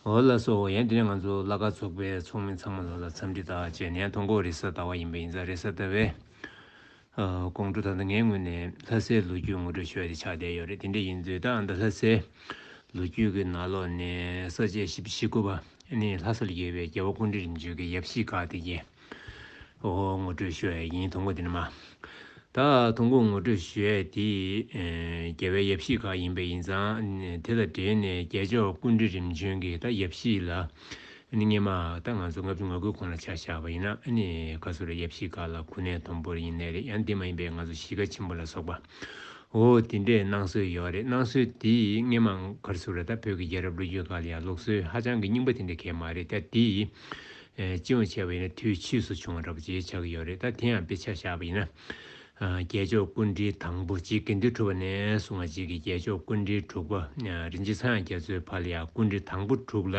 ཨོ་ལ་སོ་ཨོ་ཡན་དེ་ནི་ང་ཚོ་བླ་དགའ་ཚོགས་པའི་ཚོགས་མི་ཚང་མ་ལ་ལ་འཚམས་འདྲི་དག་བྱས་ནས་ཐོ་འགོད་རེ་ས་ལྟ་བ་ཡིན་པ་ཡིན་ཙང་རེ་ས་ལྟ་བའི་དགོང་དྲོ་ད་ལྟ་ངའི་ངོས་ནས་ལྷ་སའི་ལོ་རྒྱུས་ངོ་སྤྲོད་ཞོར་དེ་ཆགས་བསྡད་ཡོད་རེད་དེ་འདྲ་ཡིན་དུས་ད་ལྟ་ལྷ་སའི་ལོ་རྒྱུས་ཀྱི་ནང་ལོགས་ནས་ས་བཅད་བཞི་བཞི་དགུ་པ་ནི་ལྷ་སར་ཡོད་པའི་རྒྱལ་བ་ཀུན་འདྲི་རིམ་བྱོན་གྱི་ཡབ་གཞིས་འགའ་དེ་རྒྱལ། ཧོ། ངོ་སྤྲོད་ཞུ་ཡས་ཡིན་དུང་གོ་དེ་ནི་མ། ད་དུང་གོ་ངོ་སྤྲོད་ཞུ་ཡས་དེ། རྒྱལ་བའི་ཡབ་གཞིས་ཁག་ཡིན་པས་ཡིན་ཙང། དེ་དང་འབྲེལ་ནས་རྒྱལ་མཆོག་ཀུན་འདྲི་རིམ་བྱོན་གྱི་ད་ཡབ་གཞིས་ལ། ནི་སྙེ་མ། ད་ང་ཚོ་ངབ་ཆུ་ང་ཁུལ་ཁོང་ལ་ཆ་བཞག་པ་ཡིན་ན། ནི་ག་ཚོད་རེད་ཡབ་གཞིས་ཁག་ལ་གུ་ནས་དོམ་པོར་ཡིན་ནས་རེད་ཡང་དེ་མ་ཡིན་པའི་ང་ཚོ་གཞིས་ཀ་ཆེན་པོ་ལ་སོགས་པ། ཧོ། དེ་འདྲས་གནང་སྲོལ་ཡོད་རེད་གནང་སྲོལ་དེ་སྙེ་མ། གར་ཟུར་ར་ད་བོད་ཀྱི་རྒྱལ་རབས་ལོ་རྒྱུས་ཁག་ལ་ཡང་ལོག་སྲོལ་ཧ་ཅང་གི་རྙིང་པ་དེ་འདྲས་ཁེལ་མ་རེད་ད་དེ། སྤྱི་ཡོངས་བྱས་པ་ཡིན་ན་དུས་ཕྱིས་སུ་བྱུང་བ་འདྲ་པོ་ཇེ་ཆགས་ཀྱི་ཡོད་རེད་ད་དེ་ཡང་དཔེ་ཆ་བཞག་པ་ཡིན་ན། རྒྱལ་མཆོག་སྐུ་འདྲིལ་དང་པོ་གཅིག་དགེ་འདུན་གྲུབ་པ་ནས་བཟུང་བ་གཅིག་གིས་རྒྱལ་མཆོག་སྐུ་འདྲིལ་དྲུག་པ་རིན་ཆེན་ཚངས་རྒྱ་མཚོའི་བར་ལ་ཡང་སྐུ་འདྲིལ་དང་པོ་དྲུག་ལ་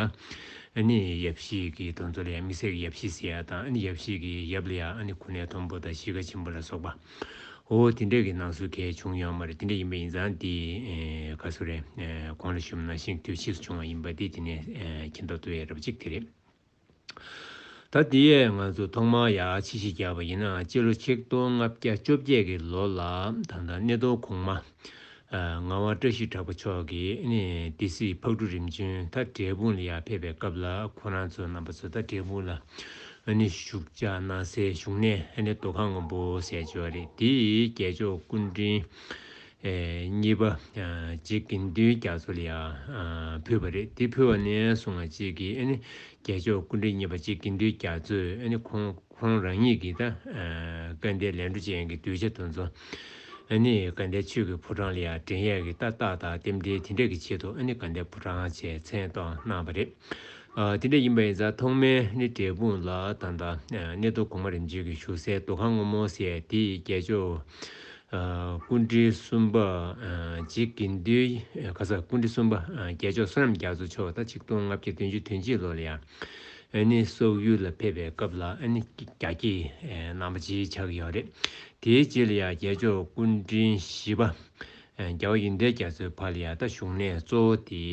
ནི་ཡབ་གཞིས་ཀྱི་གདོན་མཚོ་ལ་ཡང་མི་བསད་ཀྱི་ཡབ་གཞིས་སེ་ཡ་དང་ཡབ་གཞིས་ཀྱི་ཡབ་ལ་ཡང་ནི་ཁུ་ནའི་མཐོན་པོ་དང་གཞིས་ཀ་ཆེན་པོ་ལ་སོགས་པ་འོ་དེ་འདྲ་གི་ནང་སུ་གས་བྱུང་ཡོད་མ་རེད་དེ་འདྲ་ཡིན་པ་ཡིན་ཙང་དེ་ག་སུ་རེད་གོང་ལ་ཞུམ་ན་ཤིང་དུས་ཕྱིས་སུ་བྱུང་བ་ཡིན་པ་དེ་དེ་ནས་མཁྱེན་རྟོགས་ཐུབ་ཡས་རབ་གཅིག་དེ་རེད། ད་ལྟའི་ཡས་ང་ཚོ་ཐོག་མར་ཡ་ཕྱི་ཞིག་རྒྱག་པ་ཡིན་ནའང་སྤྱི་ལོ་ཆིག་སྟོང་ལྔ་བརྒྱ་བཅོ་བརྒྱད་ཀྱི་ལོ་ལ་ད་ལྟ་སྣེ་གདོང་གོང་མ་ངག་དབང་བཀྲ་ཤིས་གྲགས་པ་མཆོག་གིས་སྡེ་སྲིད་ཕག་གྲུ་རིམ་བྱོན་ད་དྲེལ་དཔུང་ལ་ཡར་ཕེབས་པའི་སྐབས་ལ་ཁོ་རང་ཚོ་རྣམ་པ་ཚོ་ད་དྲེལ་དཔུང་ལ་བཞུགས་ཕྱག་ན་སའི་བཞུགས་གནས་རྡོ་ཁང་སྔོན་པོ་ཟས་སྦྱོར་རེད་དེ་རྒྱལ་མཆོག་སྐུ་འཕྲེང་གཉིས་པ། རྗེ་དགེ་འདུན་རྒྱ་མཚོ་ལ་ཡང་ཕུལ་བ་རེད་དེ་ཕུལ་བ་ནས་བཟུང་ང་གཅིག་གིས་ཨ་ནི་རྒྱལ་མཆོག་སྐུ་འདྲེན་གཉིས་པ་རྗེ་དགེ་འདུན་རྒྱ་མཚོས་ཁོང་རང་ཉིད་ཀྱི་ད་སྐལ་ལྡན་ལས་འཕྲོ་ཅན་གྱི་གདུལ་བྱ་དུ་མཚོ་ཨ་ནི་དགའ་ལྡན་ཆོས་ཀྱི་ཕོ་བྲང་ལ་ཡང་འགྲེང་ཡས་ཀྱི་ཏག་ཏག་དང་རྟེན་འབྲེལ་དེ་འདྲ་གྱི་ཆེད་དུ་ཨ་ནི་དགའ་ལྡན་ཕོ་བྲང་ཅེས་མཚན་གཏོགས་གནང་བ་རེད། དེ་འདྲ་ཡིན་པ་ཡིན་ཙང་ཐོག་མའི་ནི་འབྲས་སྤུངས་ལ་ད་ལྟ་གནས་རྡོ་གོང་མ་རིམ་བྱོན་གྱི་བཞུགས་སའི་འདུ་ཁང་སྔོན་མོ་ཟས་དེ་ཡི་རྒྱལ་མཆོག་ཀུན་དྲིལ་གསུམ་པ་རྗེ་དགེ་འདུན་ག་ས་ཀུན་དྲིལ་གསུམ་པ་རྒྱལ་མཆོག་བསོད་ནམས་རྒྱ་མཚོ་མཆོག་ད་ཆིག་སྟོང་ལྔ་བརྒྱ་བདུན་ཅུ་དོན་གཅིག་ལོ་ལ་ཡང་ནི་སོག་ཡུལ་ལ་ཕེབས་པའི་སྐབས་ལ་ནི་རྒྱ་སྐྱེས་རྣམ་པ་སྤྱིའི་ཕྱག་གི་ཡང་རེད་དེའི་རྗེས་ལ་ཡང་རྒྱལ་མཆོག་ཀུན་དྲིལ་བཞི་པ་རྒྱ་བ་ཡི་མདའི་རྒྱ་མཚོའི་བར་ལ་ཡར་ལྟ་བཞུགས་གནས་གཙོ་བོ་དེ་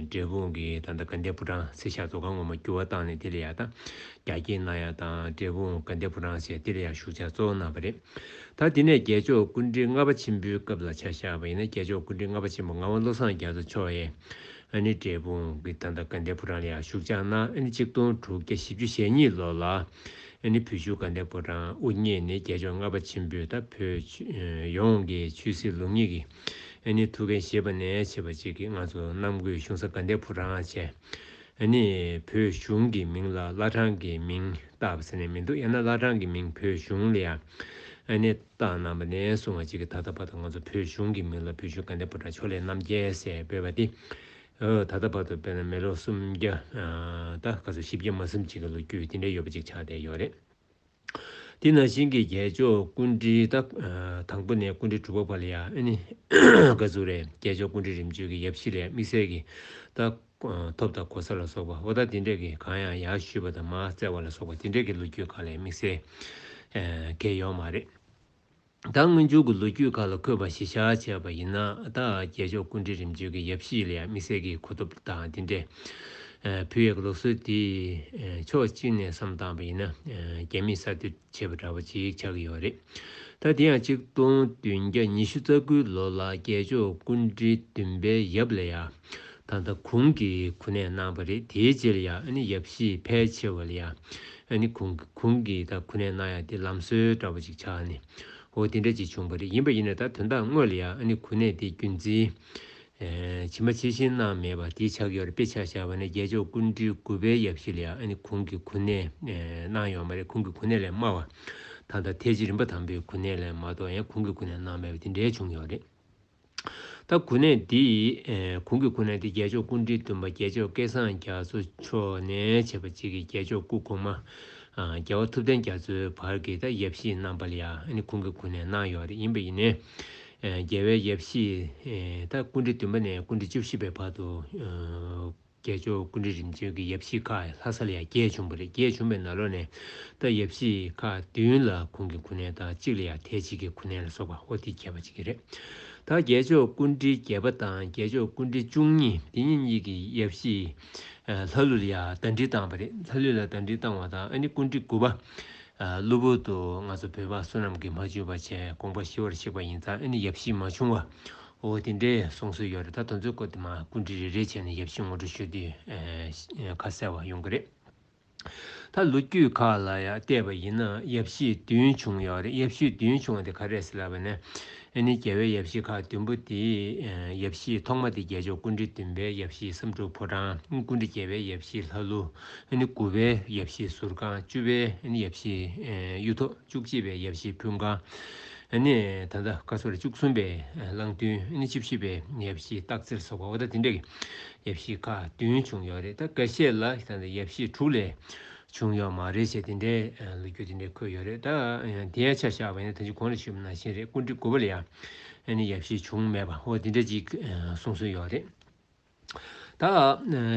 འབྲས་སྤུངས་ཀྱི་ད་ལྟ་དགའ་ལྡན་ཕོ་བྲང་ཚེ་ཞབས་ཚོགས་ཁང་ངོ་མ་བསྒྱུར་བ་བཏང་ནས་དེ་ལ་ཡར་ལྟ་རྒྱ་སྐྱེད་གནང་ཡ་དང་འབྲས་སྤུངས་དགའ་ལྡན་ཕོ་བྲང་ཞེས་དེ་ལ་ཡར་བཞུགས་བྱ་གཙོ་བོ་གནང་བ་རེད། ད་དེ་ནས་རྒྱལ་མཆོག་ཀུན་འདྲི་ལྔ་པ་ཆེན་པོའི་སྐབས་ལ་ཆ་བཞག་པ་ཡིན་ན་རྒྱལ་མཆོག་ཀུན་འདྲི་ལྔ་པ་ཆེན་པོ་ངག་དབང་བློ་བཟང་རྒྱ་མཚོ་མཆོག་ཨེ་ནི་འབྲས་སྤུངས་ཀྱི་ད་ལྟ་དགའ་ལྡན་ཕོ་བྲང་ལ་ཡར་བཞུགས་བྱ་གནང་ཨེ་ནི་གཅིག་སྟོང་དྲུག་བརྒྱ་བཞི་བཅུ་ཞེ་གཉིས་ལོ་ལ་ཨ་ནི་བུ་ཆུ་ཀ་ནད་པོ་དང་དབུ་བརྙེས་ནས་རྒྱལ་མཆོག་ལྔ་པ་ཆེན་པོས་ད་བོད་ཡོངས་ཀྱི་ཆོས་སྲིད་ལུགས་གཉིས་ཀྱི་ཨ་ནི་ཐུགས་འགན་བཞེས་པ་ནས་བྱེད་པ་གཅིག་གིས་ང་ཚོ་གནམ་བསྐོས་གཞུང་ས་ཀ་ནད་པོ་རང་ཨ་ཅེ་ཨ་ནི་བོད་གཞུང་གི་མིང་ལ་བླ་བྲང་གི་མིང་བཏགས་པ་ཟེར་ནས་མི་འདུག་ཡང་ན་བླ་བྲང་གི་མིང་བོད་གཞུང་ལ་ཨ་ནི་བཏགས་གནང་པ་ནས་བཟུང་བ་གཅིག་གིས་ད་ལྟ་བར་དུ་ང་ཚོ་བོད་གཞུང་གི་མིང་ལ་བུ་ཆུ་ཀ་ནད་པོ་དང་ཆོས་ལེགས་རྣམ་རྒྱལ་ཟེར་འབོད་པ་འདི་ད་ལྟ་བར་དུ་དཔེར་ན་མི་ལོ་སུམ་བརྒྱ། ད་ག་ཚོད་བཞི་བརྒྱ་མ་གསུམ་ཅིག་གི་ལོ་རྒྱུས་དེ་འདྲའི་ཡོད་པ་ཅིག་ཆགས་བསྡད་ཡོད་རེད། དེ་ནང་བཞིན་གྱི་རྒྱལ་མཆོག་ཀུན་དཀྲིའི་ད་དང་པོ་ནས་ཀུན་དཀྲི་དྲུག་པ་བར་ལ་ཡ་ཨི་ནི་ཀ་ཛུ་རེད་རྒྱལ་མཆོག་ཀུན་དཀྲི་རིམ་བྱོན་གྱི་ཡབ་གཞིས་ལས་དམིགས་བསལ་གྱི་ད་ཐོབ་ད་གོ་ས་ལ་སོགས་པ་བོ་ད་དེ་འདྲས་ཀྱི་གང་ཡང་ཡར་བཞུས་པ་ད་མ་བཙལ་བ་ལ་སོགས་པ་དེ་འདྲས་ཀྱི་ལོ་རྒྱུས་གང་ལས་དམིགས་བསལ་གས་ཡོད་མ་རེད། ད་སྔོན་འཇུག་གི་ལོ་རྒྱུས་ཁག་ལ་འཁོད་པ་གཞི་ཆགས་བྱས་པ་ཡིན་ན་ད་རྒྱལ་མཆོག་ཀུན་འདྲིས་རིམ་བྱོན་གྱི་ཡབ་གཞིས་ལས་དམིགས་བསལ་གྱི་གོ་ཐོབ་དང་དེ་འདྲའི་བུ་ཡབ་ལོ་སྲོལ་དེ་ཕྱོགས་གཅིག་ནས་བསམ་བཏང་བ་ཡིན་ན་རྒྱ་མིས་གསར་གཏོད་བྱས་པ་འདྲ་བོ་ཅིག་ཆགས་ཀྱི་ཡོད་རེད་ད་དེ་ཡང་ཆིག་སྟོང་བདུན་བརྒྱ་ཉི་ཤུ་རྩ་དགུའི་ལོ་ལ་རྒྱལ་མཆོག་ཀུན་འདྲིས་བདུན་པའི་ཡབ་ལས་ཡབ། ད་ལྟ་གུང་གི་གུ་ནས་གནང་བ་རེད་དེའི་རྗེས་ལ་ཡང་ཡབ་གཞིས་ཕལ་ཆེ་བ་ལ་ཡང་གུང་གི་གུང་གི་ད་གུ་ནས་གནང་ཡ་དེ་ལམ་སྲོལ་འདྲ་བ་ཅིག་ཆགས་ནས་འོ་དེ་འདྲ་ཅིག་བྱུང་བ་རེད་ཡིན་པ་ཡིན་ན་ད་དོན་དག་དངོས་ལ་ཡང་གུ་ནས་དེ་རྒྱུན་འཛིན་ཇི་མ་ཇི་བཞིན་གནང་མེད་པ་དེའི་ཕྱག་གཡོར་དཔེ་ཆ་བཞག་པ་ནས་རྒྱལ་མཆོག་ཀུན་འདྲིའི་གུ་བའི་ཡབ་གཞིས་ལ་ཡང་གུང་གི་གུ་ནས་གནང་ཡོད་མ་རེད་གུང་གི་གུ་ནས་ལས་དམའ་བ་ད་ལྟ་ཐའི་ཇི་རིམ་པ་དང་པོའི་གུ་ནས་ལས་མ་གཏོགས་ཡང་གུང་གི་གུ་ནས་གནང་མེད་པ་དེ་འདྲའི་བྱུང་ཡོད་རེད། ད་གུ་ནས་འདི་ཡི་གུང་གི་གུ་ནས་འདི་རྒྱལ་མཆོག་ཀུན་འདྲིའི་འདུན་པ་རྒྱལ་མཆོག་སྐལ་བཟང་རྒྱ་མཚོ་མཆོག་ནས་བྱེད་པ་གཅིག་གི་རྒྱལ་མཆོག་སྐུ་གོང་མ་རྒྱལ་བ་ཐུབ་བསྟན་རྒྱ་མཚོའི་བར་གྱི་ད་ཡབ་གཞིས་གནང་པ་ལ་ཡང་གུང་གི་གུ་ནས་གནང་ཡོད་རེད་ཡིན་པ་ཡིན་ནས་རྒྱལ་བའི་ཡབ་གཞིས་ད་ཀུན་འདྲི་འདུན་པ་ནས་ཀུན་འདྲི་བཅུ་བཞི་པའི་བར་དུ། རྒྱལ་མཆོག་ཀུན་འདྲི་རིམ་བྱོན་གྱི་ཡབ་གཞིས་ཁ་ལྷ་ས་ལ་ཡར་རྒྱས་བྱུང་བ་རེད་རྒྱས་བྱུང་པའི་ན་ལོ་ནས་ད་ཡབ་གཞིས་ཁ་བདུན་ལ་གུང་གི་གུ་ནན་དང་གཅིག་ལ་ཡར་ཐའི་ཇིས་ཀྱི་གུ་ནན་ལ་སོགས་པ་ཧོར་ཏི་ཁྱད་པ་གཅིག་གི་རེད་ད་རྒྱལ་མཆོག་ཀུན་འདྲི་བརྒྱད་པ་དང་རྒྱལ་མཆོག་ཀུན་འདྲི་བཅུ་གཉིས་འདི་གཉིས་གཉིས་ཀྱི་ཡབ་གཞིས་ལྷ་ཀླུ་ལ་ཡར་ཟླ་འདྲི་བཏང་བ་རེད་ལྷ་ཀླུ་ལ་ཟླ་འདྲི་བཏང་བ་དང་ཨ་ནི་ཀུན་འདྲི་དགུ་པ་གློ་བུར་དུ་ང་ཚོ་བོད་པ་བསོད་ནམས་ཀྱི་མ་བཅོས་པ་བྱས་དགོངས་པ་ཞི་བར་གཤེགས་པ་ཡིན་ཙང་ཨ་ནི་ཡབ་གཞིས་མ་བྱུང་བ་འོ་དེ་འདྲའི་གསུང་སྲོལ་ཡོད་རེད་ད་དོན་ཚོད་སྐོར་དེ་མ་སྐུ་འབྲི་རེ་རེ་བྱས་ནས་ཡབ་གཞིས་ངོ་སྤྲོད་ཞུ་དུས་ཁ་གསལ་བ་ཡོང་གི་རེད། ད་ལོ་རྒྱུས་ཁག་ལ་ཡང་བལྟས་པ་ཡིན་ན་ཡབ་གཞིས་བདུན་བྱུང་ཡོད་རེད་ཡབ་གཞིས་བདུན་བྱུང་བ་དེ་ག་རེད་ཟེར་ལབ་པ་ནས་ཨེ་ནི་རྒྱལ་བའི་ཡབ་གཞིས་ཁག་བདུན་པོ་དེ་ཡབ་གཞིས་ཐོག་མ་དེ་རྒྱལ་མཆོག་སྐུ་འབྲི་བདུན་པའི་ཡབ་གཞིས་བསམ་འགྲུབ་ཕོ་བྲང་སྐུ་འབྲི་བརྒྱད་པའི་ཡབ་གཞིས་ལྷ་ཀླུ་ཨེ་ནི་དགུ་པའི་ཡབ་གཞིས་ཟུར་ཁང་བཅུ་པའི་ཡབ་གཞིས་གཡུ་ཐོག། བཅུ་གཅིག་པའི་ཡབ་བཞི་ཕུན་ཁང། ད་ལྟ་བཀའ་ཟུར་བཅུ་གསུམ་པའི་གླང་སྟོན། བཅུ་བཞི་པའི་ཡབ་བཞི་སྟག་རྩེར་སོགས་པ་འོ་ད་དེ་འདྲ་གི་ཡབ་བཞི་ཁག་བདུན་བྱུང་ཡོད་རེད་ད་ག་ཤེད་ལ་ད་ལྟ་ཡབ་བཞི་དྲུག་ལས་བྱུང་ཡོད་མ་རེད་ཞེས་དེ་འདྲའི་ལོ་རྒྱུས་དེ་འདྲའི་འཁོད་ཡོད་རེད་ད། དེའི་ཆ་བཞག་པ་ཡིན་ན་ད་ཅི་གོང་ལ་ཞུས་པ་ནང་བཞིན་རེད་ཀུན་གྲིབ་དགུ་པ་ལ་ཡང་ཡབ་བཞི་བྱུང་མེད་པ་འོ་དེ་འདྲ་ཅིག་གསུང་སྲོལ་ཡོད་རེད། ད་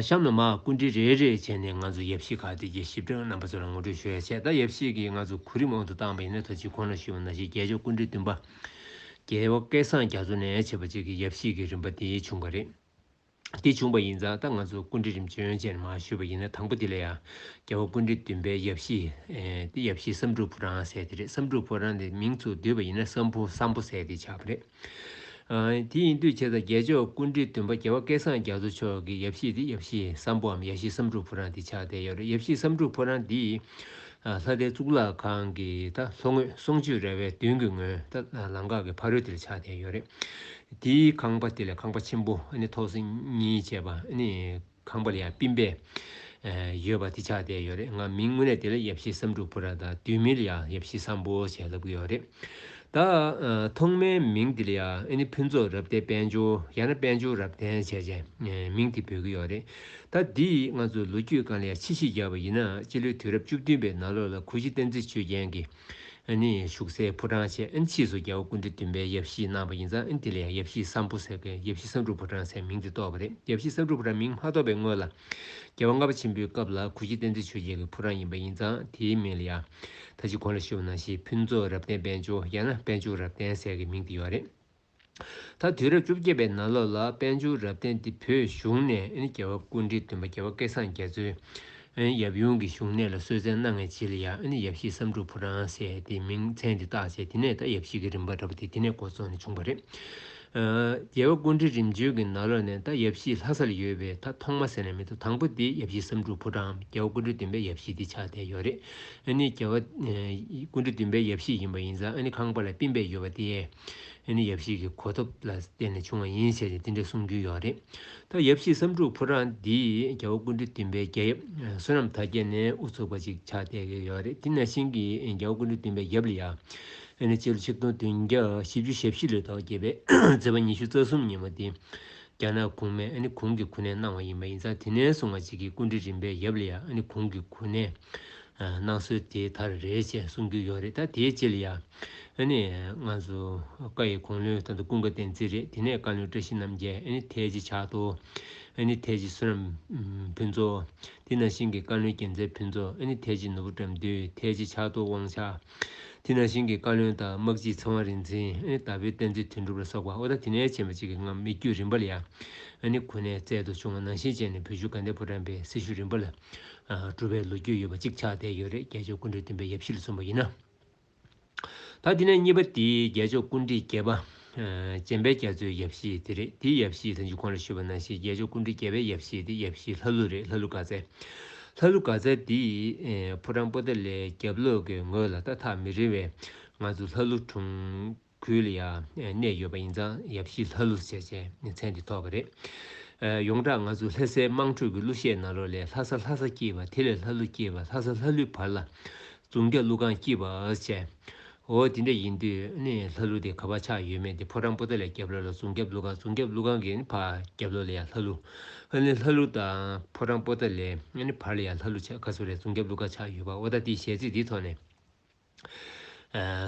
གཤམ་ན་མ་ཀུན་དྲི་རེ་རེ་བྱས་ནས་ང་ཚོ་ཡབ་གཞིས་ཁག་དེ་གའི་ཞིབ་ཕྲའི་རྣམ་པ་ཚོ་ལ་ངོ་སྤྲོད་ཞུ་ཡ་བྱས་ད་ཡབ་གཞིས་ཀྱིས་ང་ཚོ་གོ་རིམ་འོག་ཏུ་བཏང་པ་ཡིན་ན་ཐོ་གཅིག་ཁོ་ན་ཞུས་པ་ན་ཞིག་རྒྱལ་མཆོག་ཀུན་དྲི་བདུན་པ། རྒྱལ་བ་སྐལ་བཟང་རྒྱ་མཚོ་ནས་བྱེད་པ་གཅིག་གི་ཡབ་གཞིས་ཀྱི་རིམ་པ་འདིའི་བྱུང་བ་རེད། འདི་བྱུང་བ་ཡིན་ཙང་ད་ང་ཚོ་ཀུན་དྲི་རིམ་བྱོན་བཅས་ནས་མ་ཞུས་པ་ཡིན་ན་དང་པོ་དེ་ལ་ཡང་རྒྱལ་བ་ཀུན་དྲི་བདུན་པའི་ཡབ་གཞིས། དེ་ཡབ་གཞིས་བསམ་འགྲུབ་ཕོ་བྲང་ཟེར་དེ་རེད་བསམ་འགྲུབ་ཕོ་བྲང་དེ་མིང་ཚུར་བསྡུས་པ་ཡིན་ན་བསམ་ཕོ་བསམ་ཕོ་ཟེར་དེ་ཆགས་པ་རེད། དེ་ཡིན་དུས་ཁྱེད་དང་རྒྱལ་མཆོག་ཀུན་འདྲིལ་སྟོན་པ་རྒྱལ་བ་སྐལ་བཟང་རྒྱ་མཚོ་མཆོག་གི་ཡབ་གཞིས་འདི་ཡབ་གཞིས་བསམ་ཕོའམ་ཡ་གཞིས་བསམ་འགྲུབ་ཕོ་བྲང་འདི་ཆགས་བསྡད་ཡོད་རེད་ཡབ་གཞིས་བསམ་འགྲུབ་ཕོ་བྲང་འདི་ལྷ་ལྡན་གཙུག་ལག་ཁང་གི་ད་ལྷོ་ངོས་གསུང་ཆོས་ར་བའི་མདུན་གྱི་ངོས་ད་ལམ་འགག་གི་ཕ་རོལ་དེར་ཆགས་བསྡད་ཡོད་རེད་དེའི་ཁང་པ་དེ་ལས་ཁང་པ་ཆེན་པོ་ཨ་ནི་ཐོག་སེར་གཉིས་བྱས་པ་ཨ་ནི་ཁང་པར་ཡང་སྤིན་པས། ཡོད་པ་དེ་ཆགས་བསྡད་ཡོད་རེད་ང་མིང་དངོས་གནས་དེ་ལ་ཡབ་ཤི་བསམ་འགྲུབ་བུ་ར་དང་དུས་མིན་ལ་ཡང་ཡབ་ཤི་བསམ་བོ་ཞེས་ལབ་གི་ཡོད་རེད། ད་ཐོག་མའི་མིང་དེ་ལ་ཡང་ཨེ་ནི་ཕུན་ཚོགས་རབ་བརྟན་དཔལ་འབྱོར་ཡང་ན་དཔལ་འབྱོར་རབ་བརྟན་བྱས་ཅན་མིང་དེ་འབོད་གི་ཡོད་རེད། ད་འདི་ང་ཚོ་ལོ་རྒྱུས་གང་ལས་ཆེས་ཤེས་རྒྱ་བ་ཡིན་ན་སྤྱི་ལོའི་དུས་རབས་བཅུ་བདུན་པའི་ནང་ལོ་ལ་གུ་ཤྲི་བསྟན་འཛིན་ཆོས་རྒྱན་གྱིས་ཨན་ནི་བཞུགས་སའི་ཕོ་བྲང་བཅས་ཨན་ཕྱིས་སུ་རྒྱལ་བ་ཀུན་འདུས་བདུན་པའི་ཡབ་གཞིས་གནང་བ་ཡིན་ཙང་ཨན་དེ་ལས་ཡབ་གཞིས་ས་འབུ་ཟེར་གི་ཡབ་གཞིས་ས་འབྲུག་ཕོ་བྲང་ཟེར་མིང་དེ་བཏོགས་པ་རེད་ཡབ་གཞིས་ས་འབྲུག་ཕོ་བྲང་མིང་མ་ཐོགས་པའི་སྔོན་ལ་རྒྱལ་བ་ལྔ་པ་ཆེན་པོའི་སྐབས་ལ་གུ་ཤྲི་བསྟན་འཛིན་ཆོས་རྒྱལ་གྱི་ཕོ་བྲང་ཡིན་པ་ཡིན་ཙང་དེའི་མིང་ལ་ཡ་ཐ་ཅི་གོ་ལ་ཤི་བ་ནང་བཞིན་ཕུན་ཚོགས་རབ་བརྟན་དཔལ་འབྱོར་ཡང་ན་དཔལ་འབྱོར་རབ་བརྟན་ཟེར་གི་མིང་དེ་ཡོད་རེད། ད་དུས་རབས་བཅོ་བརྒྱད་པའི་ནང་ལོགས་ལ་དཔལ་འབྱོར་རབ་བརྟན་འདི་བོད་གཞུང་ནས་རྒྱལ་བ་ཀུན་འདྲིའི་སྟོན་པ་རྒྱལ་བ་སྐལ་བཟང་རྒྱ་མཚོའི་ཡབ་ཡུམ་གྱི་བཞུགས་གནས་ལ་གསོལ་བསྩལ་གནང་ངེས་བྱས་ལ་ཡང་ཡབ་གཞིས་བསམ་འགྲུབ་ཕོ་བྲང་ཟེར་ཏེ་མིང་མཚན་འདི་བཏགས་བྱས་དེ་ནས་ད་ཡབ་གཞིས་ཀྱི་རིམ་པ་འདྲ་པོ་དེ་དེ་ནས་འགོ་བཙུགས་ནས་བྱུང་བ་རེད། རྒྱལ་བ་ཀུན་འདྲི་རིམ་བྱོན་གྱི་ནང་ལོགས་ནས་ད་ཡབ་གཞིས་ལྷ་ས་ལ་ཡོད་པའི་ད་ཐོག་མ་ཟེར་ན་མི་འདུག་དང་པོ་དེ་ཡབ་གཞིས་བསམ་འགྲུབ་ཕོ་བྲང་རྒྱལ་བ་ཀུན་འདྲི་སྟོན་པའི་ཡབ་གཞིས་དེ་ཆགས་བསྡད་ཡོད་རེད། རྒྱལ་བ་ཀུན་འདྲི་སྟོན་པའི་ཡབ་གཞིས་ཡིན་པ་ཡིན་ཙང་ཁང་པ་ལ་སྤིན་པས་ཡོད་པ་དེ། དེ་ནི་ཡབ་གཞིས་ཀྱི་གོ་ཐོབ་ལ་བརྟེན་ནས་བྱུང་བ་ཡིན་ཞེས་ཀྱང་འདི་འདྲའི་གསུང་རྒྱུན་ཡོད་རེད། ད་ཡབ་གཞིས་བསམ་འགྲུབ་ཕོ་བྲང་འདིས་རྒྱལ་བོ་ཀུན་གྲོལ་བདུན་པའི་རྒྱལ་ཡབ་བསོད་ནམས་དར་རྒྱས་ནས་དབུ་ཚུགས་པ་ཅིག་ཆགས་བསྡད་ཀྱི་ཡོད་རེད་དེ་ནས་ཤིང་གིས་རྒྱལ་བོ་ཀུན་གྲོལ་བདུན་པའི་ཡབ་ལི་ཡ། དེ་ནས་སྤྱི་ལོ་ཆིག་སྟོང་བདུན་བརྒྱ་བཞི་བཅུ་ཞེ་བཞི་ལོའི་ཟླ་བ་བརྒྱད་པའི་ཚེས་པ་ཉི་ཤུ་རྩ་གསུམ་ཉིན་མོ་དེ་རྒྱ་ནག་གུང་མས་གུང་གི་གུ་ནས་གནང་བ་ཡིན་པ་ཡིན་ཙང་དེ་ནས་བཟུང་བ་ཅིག་གིས་ཀུན་གྲོལ་རིམ་པའི་ཡབ་ལི་ཡ་གུང་གི་གུ་ནས་གནང་སྲོལ་དེ་དར་རེད་ཅེས་གསུང་རྒྱུན་ཡོད་རེད་ད་དེའི་སྤྱི་ལི་ཡ། ཨ་ནི། ང་སུ། བཀའ་ཡི་གོང་ལོའི་ཐང་དུ་ཀུན་དགའ་བསྟན་འཛིན་རེད་དེ་ནས་བཀའ་བློན་བཀྲ་ཤིས་རྣམ་རྒྱལ་ཨ་ནི་ཐའི་ཇི་ཕྱག་ཐོ། ཨ་ནི་ཐའི་ཇི་སུ་རམ། ཕུན་ཚོགས། དེ་ནང་བཞིན་གྱི་བཀའ་བློན་རྒྱལ་མཚན་ཕུན་ཚོགས་ཨ་ནི་ཐའི་ཇི་ནོར་བུ་བཀྲ་མདུད་ཐའི་ཇི་ཕྱག་ཐོ་དབང་ཕྱག། དེ་ནང་བཞིན་གྱི་བཀའ་བློན་དང་དམག་སྤྱི་ཚེ་དབང་རིག་འཛིན་ཨ་ནི་དྭགས་པོའི་བསྟན་འཛིན་དོན་གྲུབ་ལ་སོགས་པ་ཨོ་ད་དེ་ནས་ཆེན་པ་གཅིག་གི་ངམ་མི་རྒྱུད་རིམ་པ་ལ་ཡ་ཨ་ནི་ཁོ་ནའི་རྩལ་དུ་བྱུང་བ་ནང་བཞིན་བྱས་ནས་བོད་བཞུགས་དགའ་ལྡན་ཕོ་བྲང་པའི་སྲི་ཞུ་རིམ་པ་ལ་གྲུབ་པའི་ལོ་རྒྱུས་ཡོད་པ་གཅིག་ཆགས་བསྡད་ཡོད་རེད་རྒྱལ་མཆོག་ཀུན་གྲོལ་བསྟན་པའི་ཡབ་གཞིས་ལ་སོན་པ་ཡིན་ན། ད་དེ་ནས་གཉིས་པ་དེ་རྒྱལ་མཆོག་ཀུན་དཀྲིས་རྒྱལ་པ། སྤྱན་པའི་རྒྱ་མཚོའི་ཡབ་གཞིས་དེ་རེད་དེའི་ཡབ་གཞིས་ལྷ་འཇུག་ཁོང་ལ་ཞུས་པ་ན་ཞེས་རྒྱལ་མཆོག་ཀུན་དཀྲིས་རྒྱལ་པའི་ཡབ་གཞིས་དེ་ཡབ་གཞིས་ལྷ་ཀླུ་རེད་ལྷ་ཀླུ་ག་ཚལ། ལྷ་ཀླུ་ག་ཚལ་དེ་ཕོ་བྲང་པོ་ཏཱ་ལའི་རྒྱབ་ལོག་གི་ངོས་ལ་ཏག་ཐག་མི་རིང་བས་ང་ཚོ་ལྷ་ཀླུ་གྲོང། ཁུལ་ལ་ཡང་གནས་ཡོད་པ་ཡིན་ཙང་ཡབ་གཞིས་ལྷ་ཀླུ་ཟེར་བྱའི་མཚན་དེ་ཐོགས་པ་རེད། ཡོངས་གྲགས་ང་ཚོ་ལྷ་སའི་དམངས་ཁྲོད་ཀྱི་གླུ་གཞས་ནང་རོ་ལས་ལྷ་ས་ལྷ་ས་སྐྱིད་པ་དེ་ལས་ལྷ་ཀླུ་སྐྱིད་པ་ལྷ་ས་ལྷ་ཀླུའི་བར་ལ་རྫོང་རྒྱ་ཀླུ་སྒང་སྐྱིད་པའོ་བྱས། འོ་དེ་འདྲ་ཡིན་དུས་ནི་ལྷ་ཀླུ་དེ་ག་བ་ཆགས་ཡོད་མེད་དེ་ཕོ་བྲང་པོ་ཏཱ་ལའི་རྒྱབ་ལོ་ལ་རྫོང་རྒྱ་ཀླུ་སྒང་རྫོང་རྒྱ་ཀླུ་སྒང་གི་ནི་བར་རྒྱབ་ལོ་ལ་ཡང་ལྷ་ཀླུ། ཨ་ནི་ལྷ་ཀླུ་དང་ཕོ་བྲང་པོ་ཏཱ་ལའི་བར་ལ་ཡང་ལྷ་ཀླུ་ཆགས་ག་ཚོད་རེད་རྫོང་རྒྱ་ཀླུ་སྒང་ཆགས་ཡོད་པ་འོ་ད་དེ་གཞས་ཚིག་འདིའི་ཐོག་ནས།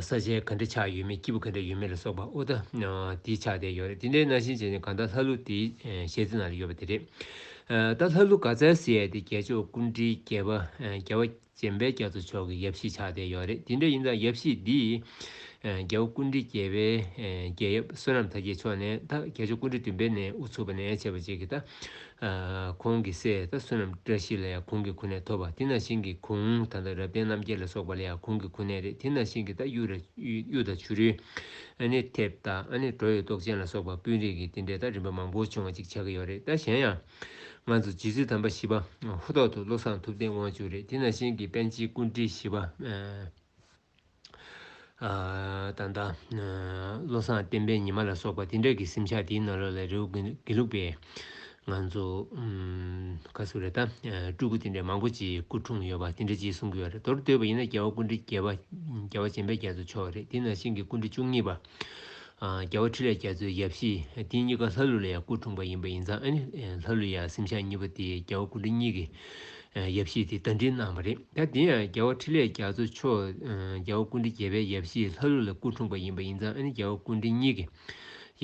ས་ཆེན་ག་འདྲའི་ཆགས་ཡོད་མེད་སྐྱིད་པོ་ག་འདྲ་ཡོད་མེད་ལ་སོགས་པ་ཨོ་ད་དེའི་ཆགས་བསྡད་ཡོད་རེད་དེ་འདྲའི་རྣ་ཤིང་ཅན་ནི་གང་ལྟར་ལྷ་ཀླུ་དེའི་ཞལ་རྩེ་ན་ཡོད་པ་དེ་རེད། ད་ལྷ་ཀླུ་ག་ཙལ་ཟེར་ཡས་དེ་རྒྱལ་མཆོག་སྐུ་འདྲིའི་རྒྱལ་བ་རྒྱལ་བ་སྤྱན་དཔལ་རྒྱ་མཚོ་མཆོག་གི་ཡབ་གཞིས་ཆགས་བསྡད་ཡོད་རེད་དེ་འདྲ་ཡིན་ཙང་ཡབ་གཞིས་འདིས་རྒྱལ་བ་སྐུ་འདྲི་རྒྱལ་བའི་རྒྱལ་ཡབ་བསོད་ནམས་དར་རྒྱས་མཆོག་ནས་ད་རྒྱལ་མཆོག་སྐུ་འདྲི་བདུན་པའི་ནས་དབུ་ཚུགས་པ་ནས་ཆད་པ་བྱེད་ཀྱི་ད་གོང་གི་སྲས་དང་བསོད་ནམས་བཀྲ་ཤིས་ལ་ཡང་གུང་གི་ཁུ་ནད་ཐོབ་པ་དེ་ནང་བཞིན་གྱི་གུང་ད་ལྟ་རབ་བརྟན་རྣམ་རྒྱལ་ལ་སོགས་པ་ལ་ཡང་གུང་གི་ཁུ་ནད་རེད་དེ་ནང་བཞིན་གྱི་ད་གཡུ་རེད་གཡུ་དང་བྱུ་རུའི་ཨ་ནེ་ཐེབས་ད་ཨ་ནེ་གྲོ་ཡོད་ཏོག་ཅན་ལ་སོགས་པ་སྤུན་རིས་ཀྱི་དེ་འདྲའི་ད་རིམ་པ་མང་པོ་བྱུང་བ་ཅིག་ཆགས་ཀྱི་ཡོད་རེད་ད་གཞན་ཡང་ང་ཚོ་རྗེ་བཙུན་དམ་པ་བཞི་པ་ཧུ་ཐོག་ཐུ་བློ་བཟང་ཐུབ་བསྟན་དབང་ཕྱུག་རེད་དེ་ནང་བཞིན་གྱི་པན་ཆེན་ཀུན་བཀྲིས་བཞི་པ། ད་ལྟ། བློ་བཟང་བསྟན་པའི་ཉི་མ་ལ་སོགས་པ་དེ་འདྲ་གི་སེམས་ཆགས་དེའི་ནང་ལོགས་ལས་རེའུ་དགེ་ལུགས་པའི། ང་ཚོ། ཁ་སུ་རེ་ད། སྤྲུལ་སྐུ་དེ་འདྲ་མང་པོ་ཅིག་སྐུ་འཁྲུངས་ཡོད་པ་དེ་འདྲ་ཅིག་གསུང་གི་ཡོད་རེད་མདོར་བསྡོད་པ་ཡིན་ན་རྒྱལ་བ་ཀུན་འདྲི་རྒྱལ་བ་ཅན་པས་རྒྱལ་དུ་ཆོག་རེད་དེ་ནང་བཞིན་གྱི་ཀུན་འདྲི་བཅུ་གཉིས་པ། རྒྱལ་བ་ཁྲི་ལས་རྒྱ་མཚོའི་ཡབ་གཤེགས། དེ་གཉིས་ཀ་ལྷ་ཀླུ་ལ་ཡང་སྐུ་འཁྲུངས་པ་ཡིན་པ་ཡིན་ཙང་ཨ་ནི་ལྷ་ཀླུ་ཡང་སེམས་ཤར་གཉིས་པ་དེས་རྒྱལ་བ་སྐུ་ཕྲེང་གཉིས་ཀྱི་ཡབ་གཤེགས་དེ་བརྡ་འཕྲིན་གནང་བ་རེད་ད་དེ་ཡང་རྒྱལ་བ་ཁྲི་ལས་རྒྱ་མཚོ་མཆོག་རྒྱལ་བ་ཀུན་འདྲི་རྒྱལ་བའི་ཡབ་གཤེགས་ལྷ་ཀླུ་ལ་སྐུ་འཁྲུངས་པ་ཡིན་པ་ཡིན་ཙང་ཨ་ནི་རྒྱལ་བ་ཀུན་འདྲི་གཉིས་ཀྱི་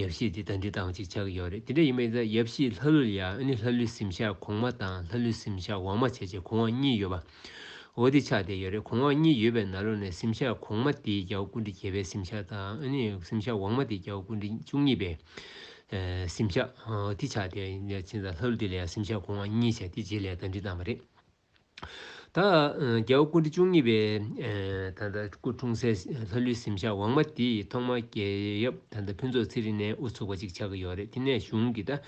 ཡབ་གཤེགས་དེ་བརྡ་འཕྲིན་བཏང་བ་ཅིག་ཆགས་ཀྱི་ཡོད་རེད་དེ་འདྲ་ཡིན་པ་ཡིན་ཙང་ཡབ་གཤེགས་ལྷ་ཀླུ་ལ་ཡང་ཨ་ནི་ལྷ་ཀླུའི་སེམས་ཤར་གོང་མ་དང་ལྷ་ཀླུའི་སེམས་ཤར་འོག་མ་བྱས་རྗེས་གོང་འོག་གཉིས་ཡོད་པ་འོ་དེ་ཆགས་བསྡད་ཡོད་རེད་གོང་འོག་གཉིས་ཡོད་པའི་ནཱ་ལོ་ནས་སེམས་ཤར་གོང་མ་དེའི་རྒྱ་བོ་ཀུན་དྲི་བྱེད་པའི་སེམས་ཤར་དང་སེམས་ཤར་འོག་མ་དེའི་རྒྱ་བོ་ཀུན་དྲི་བཅུ་གཉིས་པའི་སེམས་ཤར་དེ་ཆགས་བསྡད་ཡོད་རེད་ཕྱིན་ལ་ལྷ་ཀླུ་དེ་ལས་སེམས་ཤར་གོང་འོག་གཉིས་ཆགས་དེ་རྗེས་ལས་ད་འདྲི་བཏང་བ་རེད། ད་རྒྱ་བོ་ཀུན་དྲི་བཅུ་གཉིས་པའི་ད་ལྟ་སྐུ་འཁྲུངས་སའི་ལྷ་ཀླུའི་སེམས་ཤར་འོག་མ་དེའི་ཐོག་མ་རྒྱལ་ཡབ་ད་ལྟ་ཕུན་ཚོགས་ཚེ་རིང་ནས་དབུ་ཚུགས་པ་ཅིག་ཆགས་ཀྱི་ཡོད་རེད་དེ་ནས་གཞུང་གི་ད་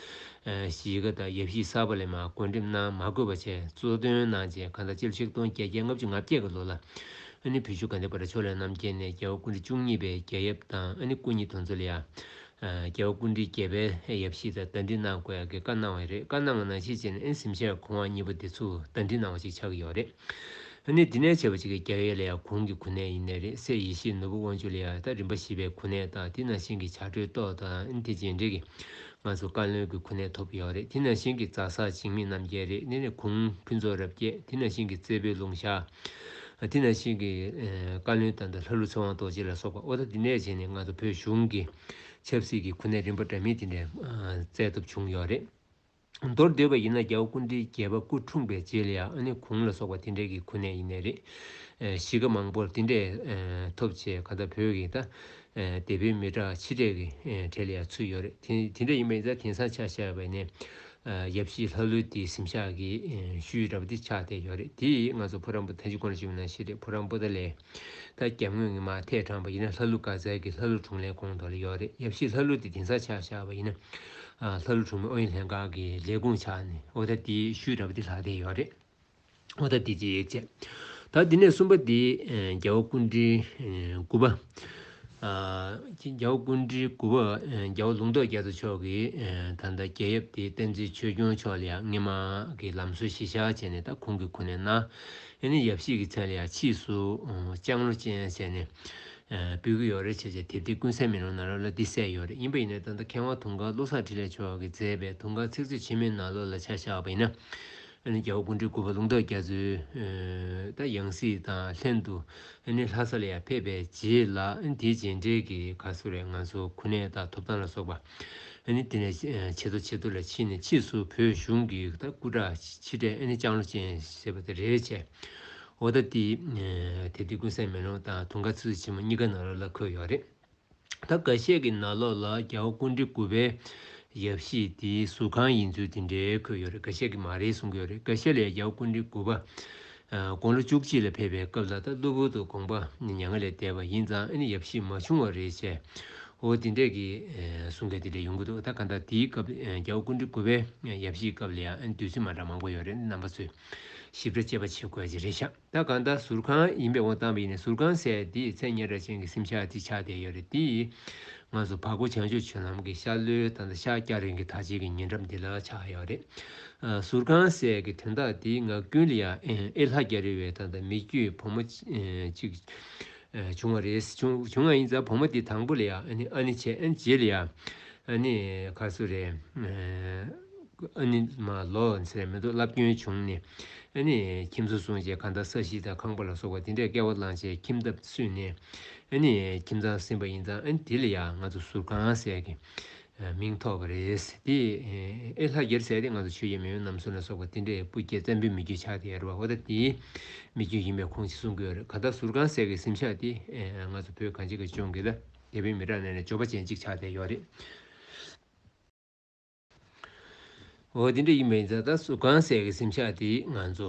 གཞིས་ཀ་དང་ཡབ་གཞིས་གསར་པ་ལས་མ་བགོས་འགྲིམ་གནང་མ་དགོས་པ་བཅས་གཙོ་དོན་གནང་རྗེས་གང་ཟག་སྤྱི་ལོ་ཆིག་སྟོང་བརྒྱད་བརྒྱ་ལྔ་བཅུ་ང་བརྒྱད་ཀྱི་ལོ་ལ་ཨ་ནེ་བུ་ཆུ་དགའ་ལྡན་བར་ཆོས་ལས་རྣམ་རྒྱལ་ནས་རྒྱལ་བ་སྐུ་འདྲི་བཅུ་གཉིས་པའི་རྒྱལ་ཡབ་དང་ཨ་ནེ་སྐུ་ཉིད་དོན་འཚོལ་ཡ། རྒྱལ་བ་སྐུ་འདྲི་བརྒྱད་པའི་ཡབ་གཞིས་དང་བརྡ་འཕྲིན་གནང་དགོས་ཡ་གི་བཀའ་གནང་བ་རེད་བཀའ་གནང་བ་ནང་བཞིན་བྱས་ན་ཨེ་ནི་སེམས་ཤར་གོང་བ་གཉིས་པོ་དེ་ཚུར་བརྡ་འཕྲིན་གནང་བ་ཞིག་ཆགས་ཀྱི་ཡོད་རེད། ཨ་ནི་འདི་ནས་བྱེད་པ་གཅིག་གི་རྒྱ་ཡེ་ལ་ཡང་གུང་གི་གུ་ནས་ཡིན་ནས་རེད་སེ་ཡེ་ཤེས་ནོར་བུ་དབང་ཕྱུག་ལ་ཡང་ད་རིམ་པ་བཞི་པའི་གུ་ནས་དང་དེ་ནང་བཞིན་གྱི་བྱ་སྒྲོའི་ཏོག་དང་ཨིན་དྷི་རྗེས་འབྲེལ་གྱི་ང་ཚོ་བཀའ་བློན་གྱི་གུ་ནས་ཐོབ་ཡོད་རེད་དེ་ནང་བཞིན་གྱི་རྫ་ས་འཇིགས་མེད་རྣམ་རྒྱལ་རེད་དེ་ནས་གུང་ཕུན་ཚོགས་རབ་རྒྱས་དེ་ནང་བཞིན་གྱི་རྩེ་བོའི་ལུང་ཤ་དེ་ནང་བཞིན་གྱི་བཀའ་བློན་དང་ད་ལྷ་ཀླུ་ཚེ་དབང་རྡོ་རྗེ་ལ་སོགས་པ་ཨོ་ད་དེ་ནས་བྱས་ནས་ང་ཚོ་བོད་གཞུང་གི་ཆབ་སྲིད་ཀྱི་གུ་ནས་རིམ་པ་འདྲ་མིན་དེ་འདྲ་བཙལ་ཐུབ་བྱུང་ཡོད་རེད། མདོར་བསྡོད་པ་ཡིན་ན་རྒྱལ་པོ་ཀུན་འདྲིའི་རྒྱལ་པ་སྐུ་འཁྲུངས་པའི་རྗེས་ལ་ཡང་ཨ་ནེ་གུང་ལ་སོགས་པ་དེ་འདྲས་ཀྱི་གོ་གནས་ཡིན་ནི་རེད། གཞིས་ཀ་མང་པོར་དེ་འདྲས་ཐོབ་ཆེད་ག་ད་བོད་ཀྱི་ད་སྡེ་པའི་མི་དྲག་ཕྱི་དྲེག་གི་གྲས་ལ་ཡང་ཚུད་ཡོད་རེད་དེ་དེ་འདྲས་ཡིན་པ་ཡིན་ཚ་དེང་སང་ཆ་ཤས་བས་ནས་ཡབ་གཞིས་ལྷ་ཀླུ་དེའི་གཟིམ་ཤག་གི་ཤུལ་འདྲ་པོ་དེ་ཆགས་བསྡད་ཡོད་རེད་དེ་ཡིས་ང་ཚོ་བུ་རམ་པོ་ད་ཅི་གོ་ན་ཞིག་ཡོད་ན་ཤེས་རེད་བུ་རམ་པོ་ད་ལས། ད་རྒྱ་དངོས་ངེས་མ་ཐད་དྲངས་པ་ཡིན་ན་ལྷ་ཀླུ་དཀར་ཟལ་གྱི་ལྷ་ཀླུ་དྲུང་ལས་དགོངས་དོར་ཡོད་རེད་ཡབ་གཞིས་ལྷ་ཀླུ་དེ་དེང་སང་ཆགས་བཞག་པ་ཡིན་ན་ལྷ་ཀླུ་དྲུང་མི་ཨོ་ཡིན་ལྷན་ཁང་གི་ལས་དགོངས་ཆགས་ནས་ཨོ་ད་དེའི་ཤུལ་འདྲ་པོ་དེ་ལྷག་བསྡད་ཡོད་རེད་ཨོ་ད་དེ་ཅི་ཡོད་ཅེས་ད་དེ་ནས་གསུམ་པ་དེ་རྒྱལ་བོ་ཀུན་དྲིན་དགུ་པ། རྒྱལ་བོ་ཀུན་དྲིན་དགུ་པ་རྒྱལ་བོ་ལུང་རྟོགས་རྒྱལ་མཚོ་མཆོག་གིས་ད་ལྟ་རྒྱལ་ཡབ་དེ་བསྟན་འཛིན་ཆོས་སྐྱོང་མཆོག་ལ་ཡང་སྔས་མ་གི་ལམ་སྲོལ་གཞི་བཞག་བྱས་ནས་ད་ཁོང་གི་གོ་གནས་ན་ཡིན་ནའི་ཡབ་གཤིས་ཀྱི་ཚད་ལ་ཡང་ཕྱིས་སུ་ལྕང་ལོ་ཅན་བྱས་ནས་འབུལ་གྱི་ཡོད་རེད་བྱས་བྱས་དེབ་དེ་ཀུན་གསལ་མིན་རུང་ནཱ་རོ་ལ་འདི་གསལ་ཡོད་རེད་ཡིན་པ་ཡིན་ན་ད་ལྟ་མཁས་དབང་དུང་དཀར་བློ་བཟང་འཕྲིན་ལས་མཆོག་གིས་མཛད་པའི་དུང་དཀར་ཚིག་མཛོད་ཕྱི་མའི་ནཱ་ལོ་ལ་ཆ་བཞག་པ་ཡིན་ན་རྒྱལ་བོ་ཀུན་གྲོལ་སྐུ་པར་ལུང་རྟོགས་རྒྱ་མཚོའི་ད་ཡང་སྲིད་དང་ལྷན་དུ་ལྷ་ས་ལ་ཡང་ཕེབས་པའི་རྗེས་ལ་དེའི་རྗེས་འབྲེལ་གྱི་ག་ཚོད་རེ་ང་ཚོ་ཁུ་ནད་དང་ཐོབ་ཐང་ལ་སོགས་པ། ཨ་ནི་དེ་ནས་ཆེ་མཐོ་ཆེ་མཐོ་ལ་ཕྱིན་ནས་ཕྱིས་སུ་བོད་གཞུང་གི་སྐུ་དྲག་ཕྱི་དྲས་ཨ་ནི་ལྕང་ལོ་ཅན་ཞེས་པ་དེ་རེད་བྱས། འོ་ད་ཏི། དེ་དུས་ཀུན་གསལ་མེ་ལོང་དང་དུང་དཀར་ཚུལ་ཆེན་མོ་གཉིས་ཀ་ནག་ལོག་ལ་འཁོད་ཡོད་རེད། ད་ག་ཤེད་ཀྱི་ནག་ལོག་ལ་རྒྱ་བོ་ཀུན་འདྲི་དགུ་པའི་ཡབ་གཞིས་དེ་ཟུར་གང་ཡིན་ཚུལ་དེ་འདྲའི་འཁོད་ཡོད་རེད་ག་ཤེད་ཀྱི་མ་རེད་གསུང་གི་ཡོད་རེད་ག་ཤེད་ལས་རྒྱ་བོ་ཀུན་འདྲི་དགུ་པ་དགུང་ལོ་བཅུ་གཅིག་ལ་ཕེབས་པའི་སྐབས་ལ་དྭགས་གློ་བུར་དུ་དགོངས་པ་ནི་མྱ་ངན་ལས་འདས་པ་ཡིན་ཙང་ཨ་ནི་ཡབ་གཤིས་མ་བྱུང་བ་རེད་བྱས། འོ་དེ་འདྲས་ཀྱི་གསུང་སྐད་དེ་འདྲས་ཡོང་གི་འདུག་ད་ག་ད་དེའི་སྐབས་རྒྱ་བོ་ཀུན་གྲི་གུ་བའི་ཡབ་གཤིས་སྐབས་ལ་ཡང་བདུད་རྩི་མ་འདྲ་མང་པོ་ཡོད་རེད་རྣམ་པ་ཚོས་ཞིབ་ཕྲ་དཔྱད་པ་བྱེད་དགོས་ཀྱི་རེད་ཤག་ད་ག་ད་ཟུར་ཁང་ཡིན་པའི་འོ་བཏང་བ་ཡིན་ནས་ཟུར་ཁང་ཟེར་དེའི་མཚན་སྙན་སྒྲ་གཅན་གྱི་སེམས་ཤག་དེ་ཆགས་བསྡད་ཡོད་རེད་དེ་ཡིས་ང་ཚོ་བར་སྐོར་བྱང་ཆུབ་ཆོས་ལམ་གྱི་ཤར་ལྷོའི་དང་ད་ཤག་སྐྱ་རེངས་ཀྱི་དར་ཆེན་གྱི་ཉེ་འགྲམ་འདི་ལ་ཆགས་ཡོད་རེད། ཟུར་ཁང་གསལ་གྱི་དོན་དག་དེའི་ངག་རྒྱུན་ལ་ཡང་ཨེ་ལྷ་རྒྱ་རི་བའི་ཐང་དང་མི་རྒྱུད་བུ་མོ་གཅིག་བྱུང་བ་རེད་བྱུང་བ་ཡིན་ཙང་བུ་མོ་དེ་དང་པོ་ལ་ཡང་ཨ་ནི་བྱས་རྗེས་ལ་ཡང་ག་ཚོད་རེད་ཨ་ནི་མ་ལོ་ཟེར་མི་འདུག་བསླབ་སྐྱོན་བྱུང་ནས་ཁྱིམ་བཟོ་སོང་རྗེས་གང་ལྟར་ས་གཞི་དང་ཁང་པ་ལ་སོགས་པ་དེ་འདྲས་བསྐལ་བ་བླངས་རྗེས་ཁྱིམ་ཐབ་བསུས་ནས་ཁྱིམ་ཚང་ཟིན་པ་ཡིན་ཙང་དེ་ལ་ཡང་ང་ཚོ་ཟུར་ཁང་གསལ་གྱི་མིང་ཐོགས་པ་རེད། དེ་ཨེ་ལྷ་རྒྱལ་ཟེར་ཏེ་ང་ཚོ་ཆོས་རྒྱལ་མེས་དབོན་ནམ་སུ་ན་སོགས་པ་དེ་འདྲས་སྤུ་རྒྱལ་བཙན་པོའི་མི་རྒྱུད་ཆགས་ཏེ་ཡར་བ་ཨོ་ད་དེ་མི་རྒྱུད་ཡིན་པས་ཁོང་ཅིག་གསུང་དགོས་རེད་ག་ད་ཟུར་ཁང་ཟེར་གི་གཟིམ་ཤག་དེ་ང་ཚོ་བོད་གངས་ཅན་གི་ལྗོངས་ཀྱི་ལ་རྒྱ་བོད་མི་དྲག་གནས་ནས་འབྱོར་པ་ཅན་ཅིག་ཆགས་ཏེ་ཡོད་རེད། འོ་དེ་འདྲ་ཡིན་པའི་རྫ་དར་སུ་གང་བསད་གི་གཟིམ་ཆག་དེ་ང་ཚོ་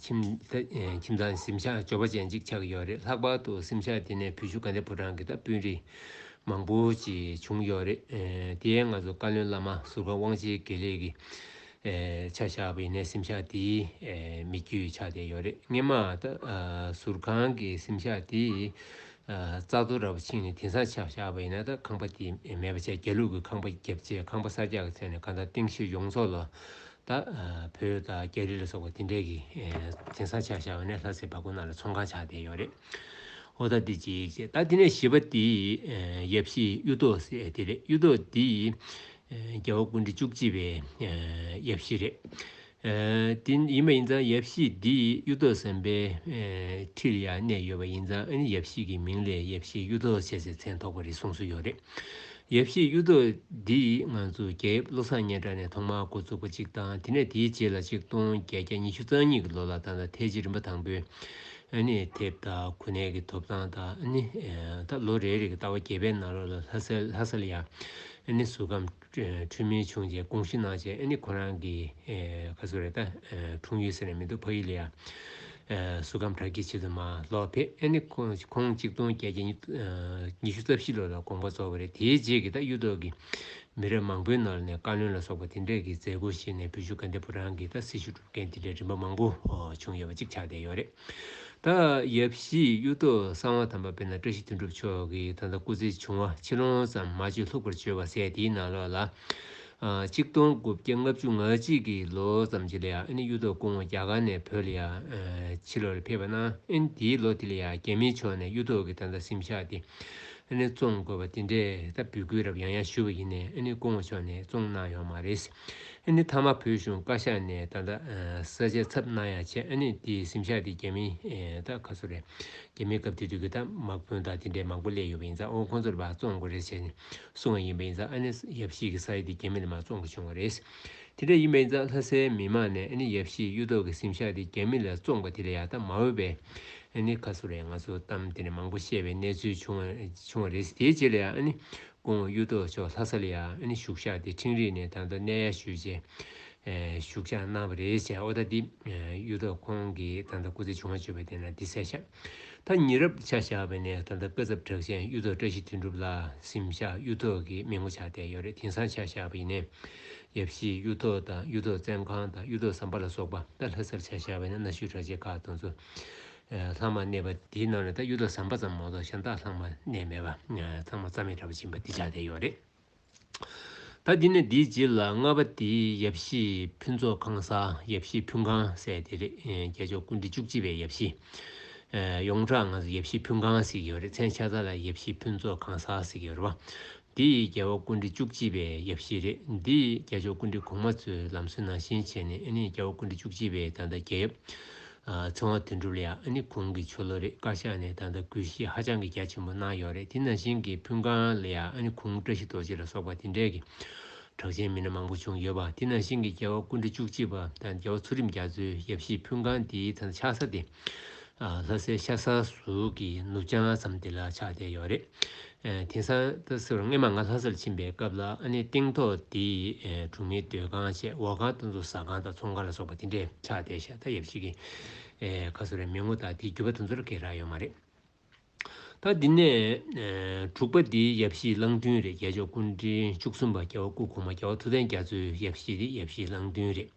ཁྱིམ་ཁྱིམ་ཚང་གཟིམ་ཆག་འབྱོར་པ་ཅན་ཅིག་ཆགས་ཀྱི་ཡོད་རེད་ལྷག་པར་དུ་གཟིམ་ཆག་དེ་ནས་བུ་ཆུ་དགའ་ལྡན་ཕོ་བྲང་གི་ད་སྤུན་རིས་མང་པོ་ཅིག་བྱུང་ཡོད་རེད་དེའི་ང་ཚོ་བཀའ་བློན་བླ་མ་ཟུར་བཀའ་དབང་ཆེན་དགེ་ལེགས་ཀྱི་ཆ་བཞག་པ་ཡིན་ནའི་གཟིམ་ཆག་དེའི་མི་རྒྱུད་ཆགས་བསྡད་ཡོད་རེད་སྙེ་མ་ད་ཟུར་ཁང་གི་གཟིམ་ཆག་དེའི་རྩ་ཐོ་ར་བ་ཕྱིན་ནས་དེང་སང་ཆགས་བཞག་པ་ཡིན་ན་ད་ཁང་པ་དེ་མེད་པ་ཆ་རྒྱ་ལུགས་ཀྱི་ཁང་པ་བརྒྱབ་རྗེས་ཁང་པ་ས་རྒྱག་གི་ཚད་ནས་ཁ་མདའ་སྟེང་ཤེས་ཡོངས་རྫོགས་ལ་ད་བོད་དང་རྒྱ་རི་ལ་སོགས་པ་དེ་འདྲས་ཀྱི་དེང་སང་ཆགས་བཞག་པ་ནས་ལྷ་སའི་བ་ཁོ་ན་ལ་ཚོང་ཁང་ཆགས་བསྡད་ཡོད་རེད་ཨོ་ད་འདི་ཅིག་བྱས་ད་དེ་ནས་བྱིས་པ་དེ་ཡབ་གཞིས་གཡུ་ཐོག་ཟེར་དེ་རེད་གཡུ་ཐོག་འདི་རྒྱལ་བ་ཀུན་འདྲི་བཅུ་གཅིག་པའི་ཡབ་གཞིས་རེད། དེ་ཡིན་པ་ཡིན་ཙང་ཡབ་གཞིས་འདི་ཡི་གཡུ་ཐོག་ཟམ་པའི་ཁྲིར་ཡང་གནས་ཡོད་པ་ཡིན་ཙང་ཨ་ནི་ཡབ་གཞིས་ཀྱི་མིང་ལས་ཡབ་གཞིས་གཡུ་ཐོག་ཟེར་ཚེ་མཚན་ཐོགས་པ་རེད་གསུངས་སྲོལ་ཡོད་རེད། ཡབ་གཞིས་གཡུ་ཐོག་འདི་ང་ཚོ་རྒྱལ་ཡབ་བློ་བཟང་སྙན་གྲགས་ནས་ཐོག་མར་འགོ་བཙུགས་པ་གཅིག་དང་དེ་ནས་དེའི་རྗེས་ལ་གཅིག་སྟོང་བརྒྱད་བརྒྱ་ཉི་ཤུ་རྩ་གཉིས་ཀྱི་ལོ་ལ་ད་ལྟ་ཐའི་ཇི་རིམ་པ་དང་པོའི་ཨ་ནི་དེབ་དང་གོ་གནས་ཀྱི་ཐོབ་ཐང་དང་ཨ་ནི་ད་ལོ་རེ་རེ་གི་ལྟ་བ་རྒྱས་པའི་ནང་ལོགས་ལ་ལྷ་སར་ལྷ་སར་ཡང་ཨ་ནི་ཟུར་ཁམས་འཕྲུལ་མིང་བྱུང་རྗེས་དགོངས་ཞུ་གནང་རྗེས་ཨ་ནི་ཁོ་རང་གི་ཁ་སུ་རེད་ད་འཁྲུངས་ཡུལ་ཟེར་ནས་མི་འདུག་ཕ་ཡུལ་ལ་ཡང་སུ་ཁམས་བྲག་དཀྱིལ་ཆེད་དུ་མ་ལོག་ཕེབས་ཨ་ནི་ཁོང་གཅིག་སྟོང་བརྒྱད་བརྒྱ་ཉི་ཤུ་རྩ་བཞི་ལོ་ལ་དགོངས་པ་རྫོགས་པ་རེད་དེའི་རྗེས་ཀྱི་ད་གཡུ་ཐོག་གི་མི་རབས་མང་པོའི་ནང་ལ་ནས་བཀའ་བློན་ལ་སོགས་པ་དེ་འདྲས་ཀྱི་མཛད་སྒོ་བཞེས་ནས་བོད་བཞུགས་དགའ་ལྡན་ཕོ་བྲང་གི་ད་སྲི་ཞུ་སྒྲུབ་མཁན་དེ་འདྲས་རིམ་པ་མང་པོ་བྱུང་ཡོད་པ་གཅིག་ཆགས་བསྡད་ཡོད་རེད། ད་ཡབ་བཞིའི་གཡུ་རྟོག་གསང་བ་དམ་པ་དཔེར་ན་བཀྲ་ཤིས་དོན་གྲུབ་མཆོག་གི་ད་ལྟ་སྐུ་ཚེ་བྱུང་བ་ཕྱི་ལོང་ཙམ་མ་བཅོས་ལྷུག་པར་བརྗོད་པ་ཟད་དེའི་ནང་ལོགས་ལ། གཅིག་སྟོང་དགུ་བརྒྱ་ལྔ་བཅུ་ང་གཅིག་གི་ལོ་ཙམ་གྱི་ལ་ཡང་ཨིན་གཡུ་རྟོག་སྐུ་ངོ་རྒྱ་གར་ནས་བོད་ལ་ཡང་ཕྱི་ལོགས་ལ་ཕེབས་པ་ན་ཨིན་དེའི་ལོ་དེ་ལ་ཡང་རྒྱ་མིའི་ཕྱོགས་ནས་གཡུ་རྟོག་གི་ད་ལྟ་སེམས་ཤག་དེ་ཨིན་བཙོང་དགོས་པ་དེ་འདྲས་ད་འབུལ་དགོས་རབས་ཡང་ཡང་ཞུས་པ་ཡིན་ནས་ཨིན་སྐུ་ངོ་མཆོག་ནས་བཙོང་གནང་ཡོང་མ་རེད། ཨ་ནི་ཐ་མ་བོད་གཞུང་བཀའ་ཤག་ནས་ད་ལྟ་གསལ་བྱེད་ཚབ་གནང་ཡ་བྱས་ཨ་ནི་དེ་སེམས་ཤག་དེ་རྒྱ་མི་ད་ག་ཚོ་རེད་རྒྱ་མི་སྐབས་དེ་དུས་ཀྱི་ད་དམག་དཔོན་དག་དེ་འདྲས་མང་པོ་སླེབས་ཡོད་པ་ཡིན་ཙང་ཨོ་ཁོང་ཚོ་ལ་བ་བཙོང་དགོས་རེད་བྱས་ནས་གསུང་བ་ཡིན་པ་ཡིན་ཙང་ཨ་ནི་ཡབ་གཞིས་ཀྱི་ས་ཡ་དེ་རྒྱ་མི་ལ་མ་བཙོང་གི་བྱུང་བ་རེད། དེ་འདྲས་ཡིན་པ་ཡིན་ཙང་ལྷ་སའི་མི་མང་ནས་ཨ་ནི་ཡབ་གཞིས་གཡུ་ཐོག་གི་སེམས་ཤག་དེ་རྒྱ་མི་ལ་བཙོང་པ་དེ་ལ་ཡག་ད་མ་འོས་པའི་ཨ་ནི་ག་ཚོ་རེད་ང་ཚོ་གཏམ་དེ་འདྲས་མང་པོ་བཤད་པའི་གནས་ཚུལ་བྱུང་བ་རེད་དེའི་རྗེས་ལ་ཡང་ཨ་ནི་ཀུན་དབང་གཡུ་སྟོད་མཆོག་ལྷ་ས་ལ་ཡང་བཞུགས་ཤག་དེ་འཕྲིན་རིས་ནས་ད་ལྟ་གནས་ཡར་ཞུས་རྗེས་བཞུགས་ཤག་གནང་བ་རེད་བྱས་ཨོ་ད་འདི་གཡུ་སྟོད་ཁོང་གིས་ད་ལྟ་སྐུ་ཚེ་ཆུང་བ་བརྗོད་པ་དེ་ན་འདི་གསལ་ཤག་ད་ཉིད་རབ་ཆ་བཞག་པ་ནས་ད་ལྟ་སྐུ་ཚབ་གྲགས་ཆེན་གཡུ་སྟོད་བཀྲ་ཤིས་དོན་གྲུབ་ལགས་སིམ་ཤག་གཡུ་སྟོད་ཀྱི་མི་ངོ་ཆགས་བསྡད་ཡོད་རེད་དེང་སང་ཆ་བཞག་པ་ཡིན་ནས་ཡབ་གཞིས་གཡུ་སྟོད་དང་གཡུ་སྟོད་བཙན་ཁང་དང་གཡུ་སྟོད་ཟམ་པ་ལ་སོགས་པ་ད་ལྷ་སར་ཆ་བཞག་པ་ནས་གནའ་ཤུལ་གྲགས་ཆེན་ཁག་དང་ཚོ་ལྷག་མ་གནས་པ་དེའི་ནང་ནས་ད་གཡུ་ཐོག་ཟམ་པ་ཙམ་མ་གཏོགས་གཞན་དག་ལྷག་མ་གནས་མེད་པ་ཚང་མ་རྩ་མེད་དྲག་པོ་བྱིན་པ་འདི་ཆ་དེ་ཡོད་རེད། ད་འདི་ནས་འདིའི་རྗེས་ལ་ལྔ་པ་དེ་ཡབ་གཞིས་ཕུན་ཚོགས་ཁང་ས་ཡབ་གཞིས་ཕུན་ཁང་སེ་དེ་རེད་རྒྱལ་མཆོག་སྐུ་འདི་བཅུ་གཅིག་པའི་ཡབ་གཞིས། ཡོངས་གྲགས་ང་ཡབ་གཞིས་ཕུན་ཁང་ཟིག་ཡོད་རེད་མཚན་ཆ་ད་ལ་ཡབ་གཞིས་ཕུན་ཚོགས་ཁང་ས་ཟིག་ཡོད་རེད་བ། འདི་ཡི་རྒྱལ་བ་སྐུ་འདི་བཅུ་གཅིག་པའི་ཡབ་གཞིས་རེད་འདི་ཡི་རྒྱལ་མཆོག་སྐུ་འདི་གོང་མ་ཚོའི་ལམ་སྲོལ་ནང་བཞིན་བྱས་ནས་ཨེ་ནི་རྒྱལ་བ་སྐུ་འདི་བཅུ་གཅིག་པའི་ད་ལྟ་རྒྱལ་ཡབ། ཚོང་བ་དོན་གྲུབ་ལ་ཡང་ཨ་ནི་གུང་གི་ཆོ་ལོ་རེ་བཀའ་ཤག་ནས་ད་ལྟ་གུས་བཤེས་ཧ་ཅང་གི་རྒྱ་ཆེན་པོ་གནང་ཡོད་རེད་དེ་ནང་བཞིན་གི་ཕུན་སྒང་ལ་ཡང་ཨ་ནི་གུང་བཀྲ་ཤིས་རྡོ་རྗེ་ལ་སོགས་པ་དེ་འདྲས་ཀྱི་གྲགས་ཅན་མི་སྣ་མང་པོ་བྱུང་ཡོད་པ་དེ་ནང་བཞིན་གི་རྒྱལ་བ་ཀུན་གྲི་བཅུ་གཅིག་པ་དང་རྒྱལ་བ་ཚུལ་ཁྲིམས་རྒྱ་མཚོའི་ཡབ་གཞིས་ཕུན་སྒང་དེའི་ཚ་ཆག་ས་དེ་ལྷ་སའི་ཤ་ས་ཟུར་གྱི་ནུབ་བྱང་ཙམ་དེ་ལ་ཆགས་བསྡད་ཡོད་རེད་དེང་སང་ད་གཟོད་སྔོན་མ་ང་ལྷ་སར་ཕྱིན་པའི་སྐབས་ལ་ཨ་ནེ་སྟེང་ཐོག་འདི་གྲོང་མིའི་སྡོད་ཁང་ཆེ་འོག་ཁང་སྟོང་ཚོ་ཟ་ཁང་དང་ཚོང་ཁང་ལ་སོགས་པ་དེ་འདྲའི་ཆགས་བསྡད་ཤ་ད་ཡབ་ཅིག་གི་ཁ་གསོ་རའི་མི་ངོ་དག་དེའི་རྒྱུ་བ་དོན་ཚོར་གེ་རག་ཡོད་མ་རེད། ད་འདི་ནས་དྲུག་པ་འདི་ཡབ་གཞིས་གླང་མདུན་རེད་རྒྱལ་མཆོག་སྐུ་འཕྲེང་བཅུ་གསུམ་པ་རྒྱལ་བ་སྐུ་གོང་མ་རྒྱལ་བ་ཐུབ་བསྟན་རྒྱ་མཚོའི་ཡབ་གཞིས་འདི་ཡབ་གཞིས་གླང་མདུན་རེད།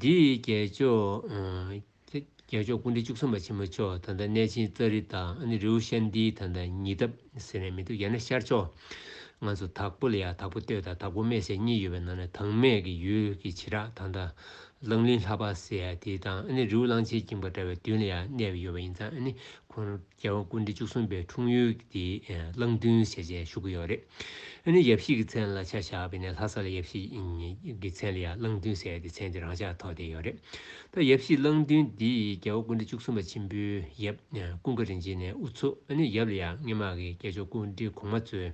འདི་ཡི་རྒྱལ་མཆོག། ཚེ་རྒྱལ་མཆོག་སྐུ་འདྲེན་བཅུ་གསུམ་པ་ཆེན་མོ་མཆོག་ད་ལྟ་གནས་ཆེན་ཙཱ་རི་དང་ཨ་ནི་རེའུ་ཤན་ཏི་ད་ལྟ་ཉི་ཐབ་ཟེར་ནས་མི་འདུག་ཡང་ན་ཤར་ཕྱོགས། ང་ཚོ་དྭགས་པོ་ལ་ཡང་དྭགས་པོ་སྟོད་དང་དྭགས་པོ་སྨད་ཟེར་གཉིས་ཡོད་པའི་ནང་ནས་དྭངས་སྨད་ཀྱི་ཡུལ་གྱི་བྱེ་བྲག་ད་ལྟ་གླང་གླིང་ལྷ་འབའ་སེ་ཡ་དི་དང་ཨ་ནི་རེའུ་གླང་ཆེན་འགྱིང་བ་འདྲ་བའི་མདུན་ལ་ཡང་གནས་པ་ཡོད་པ་ཡིན་ཙང་ཨ་ནི་ཁོང་རང་རྒྱལ་བ་ཀུན་འདུས་བཅུ་གསུམ་པའི་འཁྲུངས་ཡུལ་དེ་གླང་མདུན་ཞེས་བྱའི་ཞུ་གི་ཡོད་རེད། ཨ་ནི་ཡབ་གཞིས་ཀྱི་མཚན་ལ་ཆ་བཞག་པས་ནས་ལྷ་ས་ལ་ཡབ་གཞིས་ཀྱི་མཚན་ལ་ཡང་གླང་མདུན་ཟེར་ཏེ་མཚན་དེ་རང་ཅག་ཐོག་བསྡད་ཡོད་རེད། ད་ཡབ་གཞིས་གླང་མདུན་འདི་རྒྱལ་བ་ཀུན་འདུས་བཅུ་གསུམ་པ་ཆེན་པོའི་ཡབ་ཀུན་དགའ་རིན་ཆེན་ནས་དབུ་ཚུགས་ཨ་ནི་ཡབ་ལ་ཡང་སྔས་མག་གི་སྐྱེས་མཆོག་ཀུན་འདུས་གོང་མ་གཙོས་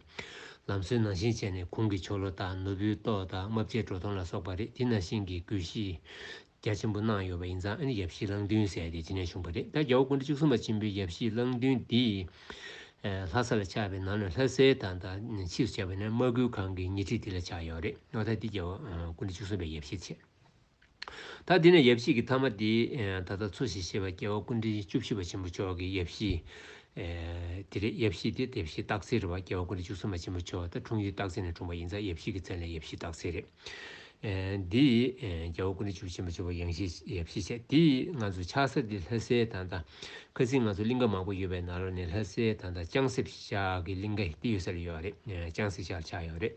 ལམ་སྲོལ་ནང་བཞིན་བྱས་ནས་གུང་གི་ཆོ་ལོ་དང་ནོར་བུའི་ཏོག་དང་རྨ་བྱའི་བྲོ་ཐོང་ལ་སོགས་པ་རེད་དེ་ནང་བཞིན་གྱི་གུས་ཤིས། རྒྱ་ཆེན་པོ་གནང་ཡོད་པ་ཡིན་ཙང་ཨ་ནི་ཡབ་གཞིས་གླང་མདུན་ཟེར་ཏེ་ཅི་ནས་བྱུང་བ་རེད་ད་རྒྱལ་བོ་དགུང་གྲི་བཅུ་གསུམ་པ་ཆེན་པོའི་ཡབ་གཞིས་གླང་མདུན་འདི་ལྷ་ས་ལ་ཆགས་པའི་ནང་ནས་ལྷ་སའི་དང་ད་ཕྱིས་སུ་བྱས་པ་ནས་དམག་ཁུལ་ཁང་གི་ཉེ་འཁྲིས་འདི་ལ་ཆགས་ཡོད་རེད་ངོ་ད་འདི་རྒྱལ་བོ་དགུང་གྲི་བཅུ་གསུམ་པའི་ཡབ་གཞིས་ཆེ་ད་འདི་ནས་ཡབ་གཞིས་ཀྱི་མཐའ་མ་འདི་ད་ལྟ་འཚོ་བཞིན་གཤེགས་པ་རྒྱལ་བོ་དགུང་གྲི་བཅུ་བཞི་པ་ཆེན་པོ་མཆོག་གི་ཡབ་གཞིས་འདི་རེད་ཡབ་གཞིས་འདི་དེབ་གཞིས་སྟག་རྩེ་རེད་བ་རྒྱལ་བོ་དགུང་གྲི་བཅུ་གསུམ་པ་ཆེན་པོ་མཆོག་ད་འཁྲུངས་ཡུལ་སྟག་རྩེ་ནས་འཁྲུངས་པ་ཡིན་ཙང་ཡབ་གཞིས་ཀྱི་མཚན་ལས་ཡབ་གཞིས་སྟག་རྩེ་རེད། འདི་ཡིས་རྒྱལ་པོ་ཀུན་དགའ་བཅུ་ཆེན་པོ་བཅུ་བ་ཡང་ཤེས་ཞེས་བཤད། དེ་ཡིས་ང་ཚོ་ཆགས་སེར་འདི་ལྷ་སའི་ཐང་དང། ཁ་ཚིག་ང་ཚོ་གླིང་ག་མང་པོ་ཡོད་པའི་ནང་ལོ་ནས་ལྷ་སའི་ཐང་དང་ཅང་སེ་བཞི་ཆགས་ཀྱི་གླིང་ག་འདི་ཡོད་ས་ལ་ཡོད་རེད་ཅང་སེ་ཆགས་ལ་ཆགས་ཡོད་རེད།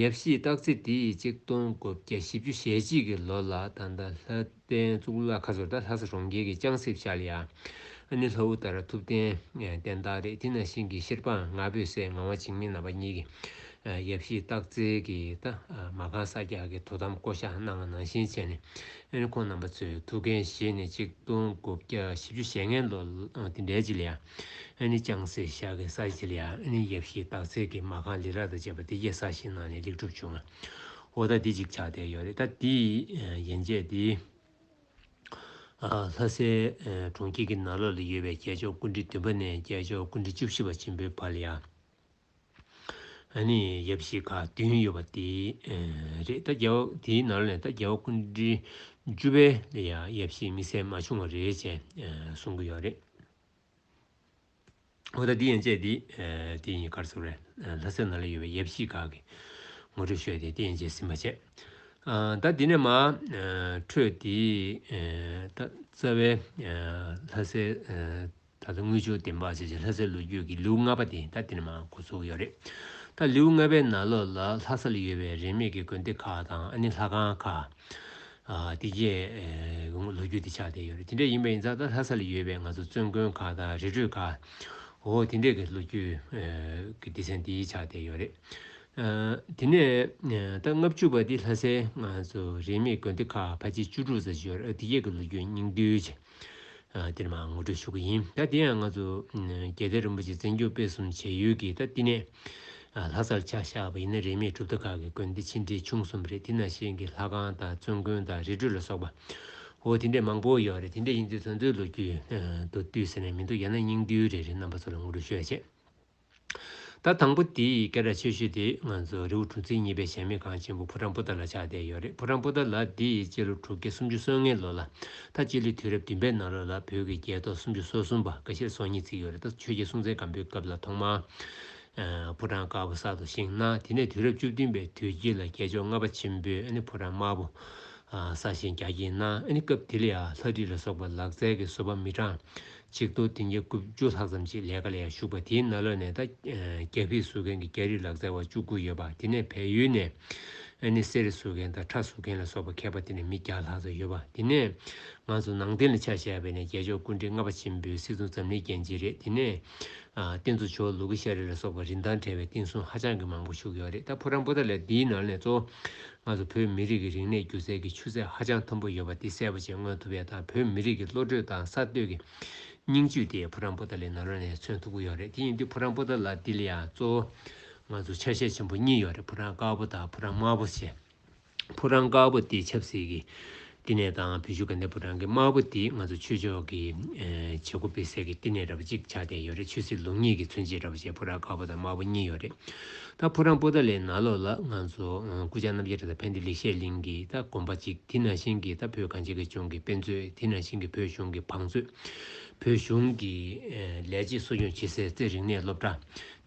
ཡབ་གཞིས་བརྟག་ཚེ་དེ་ཡིས་གཅིག་སྟོང་དགུ་བརྒྱ་བཞི་བཅུ་ཞེ་གཅིག་གི་ལོ་ལ་ད་ལྟ་ལྷ། བསྟན་གཙུག་ལག་ཁ་ཟུར་དང་ལྷ་ས་གྲོང་ཁྱེར་གྱི་ཅང་སྲིབ་ཤཱ་ལི་ཨ་ནི་ལྷ་བུ་ལྟར་ཐུབ་བསྟན་བསྟན་བདག་རེད་དེ་ན་ཤིང་གི་ཤེར་པའང་ང་ཕོད་སའི་ངང་བ་འཇིགས་མེད་རྣམ་པ་གཉིས་ཀྱི་ཡབ་གཞིས་སྟག་རྩེ་གི་ད་མ་གང་ས་རྒྱག་གི་དོ་དམ་བསྐོ་གཞག་གནང་ང་ནང་བཞིན་བྱས་ནས་ཁོང་རྣམ་པ་ཚོས་ཐུགས་འགན་བཞེས་ནས་གཅིག་སྟོང་དགུ་བརྒྱ་བཞི་བཅུ་ཞེ་ལྔའི་ལོ་དེ་འདྲའི་ལྗི་ལི་ཨ་ནི་ཅང་སྲིབ་ཤཱ་གི་ས་ལྗི་ལི་ཨ་ནི་ཡབ་གཞིས་སྟག་རྩེ་གི་མ་གང་ལི་རག་དང་བཅས་པ་དེ་རྒྱས་ས་ཞིག་གནང་ནས་ལེགས་གྲུབ་བྱུང་ང། འོ་ད་འདི་ཅིག་ཆགས་བསྡད་ཡོད་རེད་ད་དེ་ཡན་ཆད་དེ། ལྷ་སའི་གྲོང་ཁྱེར་གྱི་ན་ལོ་ལ་ཡོད་པའི་རྒྱལ་མཆོག་ཀུན་དཀྲིས་བདུན་པ་ནས་རྒྱལ་མཆོག་ཀུན་དཀྲིས་བཅུ་བཞི་པ་ཆེན་པོའི་བར་ཡ་ནི་ཡབ་བཞི་ཁག་བདུན་ཡོད་པ་དེ་རེད་ད་རྒྱལ་བ་དེའི་ན་ལོ་ནས་ད་རྒྱལ་བ་ཀུན་དཀྲིས་བཅུ་པའི་ཡ་ཡབ་བཞི་དམིགས་བསལ་མ་བྱུང་བ་རེད་ཅེས་གསུང་གི་ཡོད་རེད། འོ་ད་འདི་ཡན་ཆད་འདི། དེ་ཡིན་གར་སོང་རེད། ལྷ་སའི་ནང་ལ་ཡོད་པའི་ཡབ་གཞིས་ཁག་གི། ངོ་སྤྲོད་ཤོད་དེ་དེ་ཡན་ཆད་ཟིན་མ་བྱས། ད་འདི་ནས་མ། འཕྲོས་དེ། ད་རྩ་བའི། ལྷ་སའི། ད་ལྟ་དངུལ་ཆུ་བདེ་འབག་བྱེད་བྱེད་ལྷ་སའི་ལོ་རྒྱུས་ཀྱི་ལེའུ་ལྔ་པ་དེ་ད་འདི་ནས་མ་འགོ་ཚུགས་ཡོད་རེད། ད་ལེའུ་ལྔ་པའི་ནང་ལོགས་ལ་ལྷ་ས་ལ་ཡོད་པའི་རིན་མེད་ཀྱི་དགོན་སྡེ་ཁག་དང་ཨ་ནི་ལྷ་ཁང་ཁག། དེ་རྗེས་ལོ་རྒྱུས་དེ་ཆགས་བསྡད་ཡོད་རེད་དེ་འདྲ་ཡིན་པ་ཡིན་ཙང་ད་ལྷ་ས་ལ་ཡོད་པའི་ང་ཚོ་བཙུན་དགོན་ཁག་དང་རི་ཁྲོད་ཁག་འོ་དེ་འདྲས་ཀྱི་ལོ་རྒྱུས་ཀྱི་སྡེ་ཚན་དེ་ཆགས་བསྡད་ཡོད་རེད། དེ་ནས་ད་ལྔ་བཅུ་བ་དེ་ལྷ་སའི་ང་ཚོ་རིས་མེད་དགོན་སྡེ་ཁག་ཕ་ཆེ་བཅུ་དྲུག་ཙམ་ཞིག་ཡོད་རེད་འོ་དེ་རྗེས་ཀྱི་ལོ་རྒྱུས་སྙིང་བསྡུས། འདིར་མ་ངོ་སྤྲོད་ཞུ་གི་ཡིན་ད་དེ་ཡང་ང་ཚོ་རྒྱལ་བསྟན་རིན་པོ་ཆེ་བཙན་བྱོལ་སྤེལ་གསུམ་བྱེད་ཡུལ་གྱི་ད་བསྟི་གནས་ལྷ་སར་ཆ་བཞག་པ་ཡིན་ན་རིས་མེད་གྲུབ་མཐའ་ཁག་གི་དགོན་སྡེ་ཆེ་འབྲིང་ཆུང་གསུམ་རེད་དེ་ན་གཞན་གྱི་ལྷ་ཁང་དང་བཙུན་དགོན་དང་རི་ཁྲོད་ལ་སོགས་པ་འོ་དེ་འདྲས་མང་པོ་ཡོད་རེད་དེ་འདྲས་ཡིན་དུས་ཚོད་འཚོལ་ལོ་རྒྱུས་དུ་བསྡུས་ཟེར་ནས་མི་འདུག་ཡང་ན་སྙིང་བསྡུས་རེད་རེད་རྣམ་པ་ཚོ་ལ་ངོ་སྤྲོད་ཞུ་ཡ་བྱེད། ད་དང་པོ་དེའི་སྐད་སྒྲ་ཆེ་ཤོས་དེ་ང་ཚོ་རི་བོ་གྲུ་ཚིགས་གཉིས་པའི་གཞས་མེད་ཁང་ཆེན་པོ་ཕོ་བྲང་སྤུ་ལྟར་ལ་ཆགས་བསྡད་ཡོད་རེད་ཕོ་བྲང་སྤུ་ལྟར་ལ་དེ་ཡི་སྤྱི་ལོ་དྲུག་བརྒྱ་སུམ་ཅུ་སོ་ལྔའི་ལོ་ལ་ད་སྤྱི་ལོའི་དུས་རབས་བདུན་པའི་ནང་ལོ་ལ་བོད་ཀྱི་རྒྱལ་ཐོག་སུམ་ཅུ་སོ་གསུམ་པ་འགའ་ཤས་སོ་གཉིས་བརྩིགས་ཡོད་རེད་ད་ཆོས་རྒྱལ་སྲུང་བཙན་སྒམ་པོའི་སྐབས་ལ་ཐོག་མར་ཕོ་བྲང་དཀར་པོ་གསར་དུ་བཞེངས་ན་དེ་ནས་དུས་རབས་བཅུ་བདུན་པའི་དུས་དཀྱིལ་ལ་རྒྱལ་མཆོག་ལྔ་པ་ཆེན་པོས་ཕོ་བྲང་དམར་པོ་གསར་བཞེངས་རྒྱ་བསྐྱེད་ན་སྐབས་དེ་ལ་ལྷ་བྲིས་ལ་སོགས་པ་ལག་རྩལ་གྱི་བཟོ་པ་མི་གྲངས་ཆིག་སྟོང་བདུན་བརྒྱ་དགུ་བཅུ་ལྷག་ཙམ་ཞིག་ལས་ཀ་ལས་ཞུགས་པ་དེའི་ན་ལོ་ནས་ད་རྒྱ་བྷི་བཟོ་མཁན་གྱི་རྒྱ་རིགས་ལག་རྩལ་བ་བཅུ་དགུ་ཡོད་པ་དེ་ནས་བལ་ཡུལ་ནས་ཨ་ནེ་གསེར་རི་བཟོ་མཁན་དང་ཁྲ་བཟོ་མཁན་ལ་སོགས་པ་མཁས་པ་དེ་ནས་མི་བརྒྱ་ལྷག་ཙམ་ཡོད་པ་དེ་ནས་ང་ཚོ་ནང་བསྟན་ལ་ཆ་བཞག་པའི་ནས་རྒྱལ་མཆོག་ཀུན་དྲིན་ལྔ་པ་ཆེན་པོའི་སྲིད་བཙུན་འཛམ་གླིང་རྒྱན་གཅིག་རེད་དེ་ནས་རྟེན་གཙོ་ཆོས་ལུགས་ཀྱི་ཤ་རི་ལ་སོགས་པ་རིན་ཐང་བྲལ་བའི་རྟེན་གསུམ་ཧ་ཅང་གི་མང་པོ་བཞུགས་ཡོད་རེད་ད་ཕོ་བྲང་པོ་ཏཱ་ལའི་འདིའི་ནང་ནས་གཙོ་བོ་ང་ཚོ་བོད་མི་རིགས་ཀྱི་རིག་གནས་སྒྱུ་རྩལ་གྱི་ཆུ་ཚད་ཧ་ཅང་མཐོན་པོ་ཡོད་པ་འདི་གསལ་བོ་ཆེ་མངོན་ཐུབ་ཡོད་དང་བོད་མི་རིགས་ཀྱི་བློ་གྲོས་དང་གསར་གཏོད་ཀྱི་སྙིང་བཅུད་དེ་བུ་རམ་པོ་ཏཱ་ལའི་ནང་ལོགས་ནས་མཚོན་ཐུབ་ཀྱི་ཡོད་རེད་དེ་བཞིན་དུ་བུ་རམ་པོ་ཏཱ་ལ་འདི་ལ་ཡང་གཙོ་བོ་ང་ཚོར་ཆ་ཤས་ཆེན་པོ་གཉིས་ཡོད་རེད་བུ་རམ་དཀར་པོ་དང་བུ་རམ་དམར་པོ་ཞེས་བུ་རམ་དཀར་པོ་དེ་ཆབ་སྲིད་ཀྱི་བསྟི་གནས་དང་བུ་ཆུ་ག་ནད་བུ་རང་གི་དམར་པོ་འདིས་ང་ཚོ་ཆོས་ཕྱོགས་ཀྱི་བྱེད་སྒོ་སྤེལ་སའི་གི་བསྟི་གནས་ར་བ་གཅིག་ཆགས་བསྡད་ཡོད་རེད་ཆོས་སྲིད་ལུགས་གཉིས་ཀྱི་མཚོན་བྱེད་ར་བ་ཞེས་ཕོ་བྲང་དཀར་པོ་དང་དམར་པོ་གཉིས་ཡོད་རེད་ད་ཕོ་བྲང་པོ་ད་ལའི་ནང་ལོགས་ལ་ང་ཚོ་སྐུ་ཕྱྭ་རྣམ་རྒྱལ་གྲགས་དང་ཕན་བདེ་ལེགས་བཤད་གླིང་གི་ད་དགོན་པ་གཅིག་དེ་ནང་བཞིན་གྱི་ད་བོད་གངས་ཅན་གི་ལྗོངས་ཀྱི་དཔེ་མཛོད་དེ་ནང་བཞིན་གྱི་བོད་གཞུང་གི་བང་མཛོད་བོད་གཞུང་གི་ལས་བྱེད་གསོ་སྐྱོང་བྱེད་སའི་རྩེ་རིག་གནས་སློབ་གྲྭ་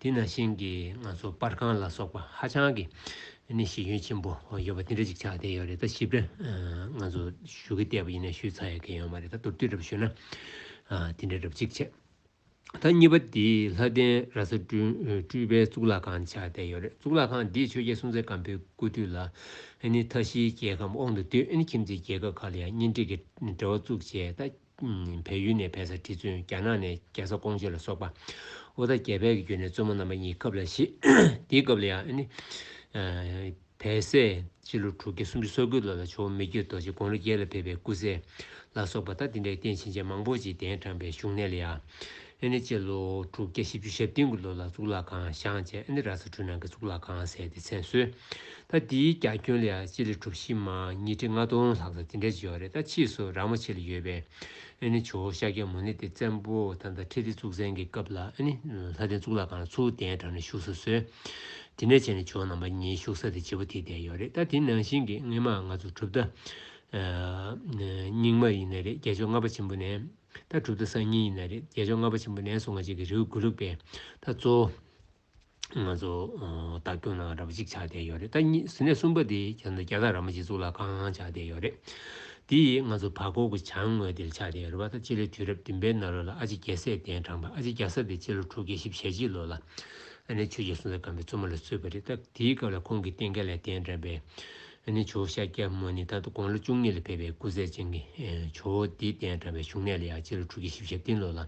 དེ་ནང་བཞིན་གྱི་ང་ཚོ་པར་ཁང་ལ་སོགས་པ་ཧ་ཅང་གི་ནས་གཞི་ཁྱོན་ཆེན་པོ་ཡོད་པ་དེ་འདྲ་ཅིག་ཆགས་བསྡད་ཡོད་རེད་ད་ཞིབ་ཕྲ་ང་ཚོ་ཞུ་གི་བལྟས་པ་ཡིན་ན་ཞུས་ཚར་ཡོད་མཁན་ཡོད་མ་རེད་ད་མདོར་བསྡུས་འདྲ་པོ་ཞུས་ན་དེ་འདྲ་འདྲ་པོ་ཅིག་བྱས། ད་གཉིས་པ་འདི་ལྷ་ལྡན་ར་ས་སྤྲུལ་པའི་གཙུག་ལག་ཁང་ཆགས་བསྡད་ཡོད་རེད་གཙུག་ལག་ཁང་འདིས་ཆོས་རྒྱལ་སྲོང་བཙན་སྒམ་པོའི་སྐུ་དུས་ལ་ནི་མཐའ་བཞིའི་རྒྱལ་ཁམས་དབང་དུ་བསྡུས་ཁྱིམ་མཚེས་རྒྱལ་ཁབ་ཁག་ལ་ཡང་གཉེན་སྒྲིག་གི་འབྲེལ་བ་བཙུགས་བྱས་ད་བལ་ཡུལ་ནས་བལ་ས་ཁྲི་བཙུན་རྒྱ་ནག་ནས་རྒྱལ་ས་ཀོང་ཇོ་ལ་སོགས་པ་ཨོ་ད་རྒྱལ་བལ་གྱི་རྒྱུད་ནས་བཙུན་མོ་རྣམ་པ་གཉིས་སྐབས་ལ་བཞི། དེའི་སྐབས་ལ་ཡང་ནི། བལ་སྲས་སྤྱི་ལོ་དྲུག་བརྒྱ་སུམ་ཅུ་སོ་དགུའི་ལོ་ལ་ཇོ་བོ་མི་བསྐྱོད་རྡོ་རྗེ་དགོངས་རི་རྒྱལ་ལ་ཕེབས་པའི་སྐུ་སྲས་ལ་སོགས་པ་ད་དེ་འདྲའི་རྟེན་བྱིན་ཅན་མང་པོ་ཅིག་གདན་དྲངས་པའི་བཞུགས་གནས་ལ་ཡང་ཨེ་ནི་སྤྱི་ལོ་དྲུག་བརྒྱ་བཞི་བཅུ་ཞབས་སྟེང་གི་ལོ་ལ་གཙུག་ལག་ཁང་བཞེངས་རྗེས་ཨེ་ནི་ར་ས་གྲུ་ནང་གི་གཙུག་ལག་ཁང་ཟེར་ཏེ་མཚན་གསོལ། ད་འདིའི་རྒྱ་ཁྱོན་ལས་སྤྱི་ལེ་གྲུ་བཞི་མ་ཉིས་ཁྲི་ལྔ་སྟོང་ལྷག་ཙམ་དེ་འདྲ་བྱེད་བ་རེད་ད་ཕྱིས་སུ་རག་མ་ཕྱི་ལ་ཡོད་པའི་ཨེ་ནི་ཇོ་བོ་ཤཱཀྱ་མུ་ནེ་དེ་བཙན་པོ་ཐ་མདའ་ཁྲི་ལྡེ་གཙུག་བཙན་གྱི་སྐབས་ལ་ཨེ་ནི་ལྷ་ལྡན་གཙུག་ལག་ཁང་ཚུར་གདན་དྲངས་ནས་བཞུགས་སར་གསོལ། དེ་ནས་བྱས་ནས་ཇོ་ནང་པ་གཉིས་བཞུགས་ས་དེ་བྱེད་པོ་དེ་བསྡད་ཡོད་རེད་ད་དེ་ནང་བཞིན་གྱི་སྔས་མ་ང་ཚོ་གྲུབ་མཐའ་རྙིང་མ་ཡིན་ནི་རེད་རྒྱལ་མཆོག་ལྔ་པ་ཆེན་པོ་ནས། ད་གྲུབ་ཐོབ་སང་ཉིན་ཡིན་ན་རེད་རྒྱལ་མཆོག་ལྔ་པ་ཆེན་པོ་ནས་སོང་ང་ཅིག་གི་རེའུ་དགུ་ལུགས་པས་ད་གཙོ་བོ་ང་ཚོ་བདག་སྐྱོང་ནང་ར་པ་གཅིག་ཆགས་བསྡད་ཡོད་རེད་ད་གཉིས་ཟིན་ནས་གསུམ་པ་དེ་རྒྱ་ནང་རྒྱ་དང་ར་མ་གཅིག་གཙུག་ལག་ཁང་ཆགས་བསྡད་ཡོད་རེད་དེ་ཡིས་ང་ཚོ་བར་སྐོར་གྱི་བྱང་ངོས་དེར་ཆགས་བསྡད་ཡོད་རེད་བ་ད་སྤྱི་ལོའི་དུས་རབས་བདུན་པའི་ནང་ལོ་ལ་ཨ་ཅེ་རྒྱལ་སྲས་གདན་དྲངས་པ་ཨ་ཅེ་རྒྱལ་ས་དེ་སྤྱི་ལོ་དྲུག་བརྒྱ་བཞི་ཞེ་གཅིག་ལོ་ལ་ཨ་ནེ་ཆོས་རྒྱལ་སྲོང་བཙན་སྒམ་པོའི་བཙུན་མོ་ལ་གསོས་པ་རེད་ད་དེའི་སྐབས་ལ་ཁོང་གིས་རྟེན་སྐལ་ལས་གདན་དྲངས་པའི་ཨ་ནི་ཇོ་བོ་ཤཱཀྱ་མུ་ནི་ད་དུང་དགུང་ལོ་བཅུ་གཉིས་ལ་ཕེབས་པའི་སྐུ་ཚད་ཅན་གྱི་ཇོ་བོ་འདིས་གདན་དྲངས་པའི་བཞུགས་གནས་ལ་ཡང་སྤྱི་ལོ་དྲུག་བརྒྱ་བཞི་བརྒྱ་ཞབས་བརྟན་ལོ་ལ་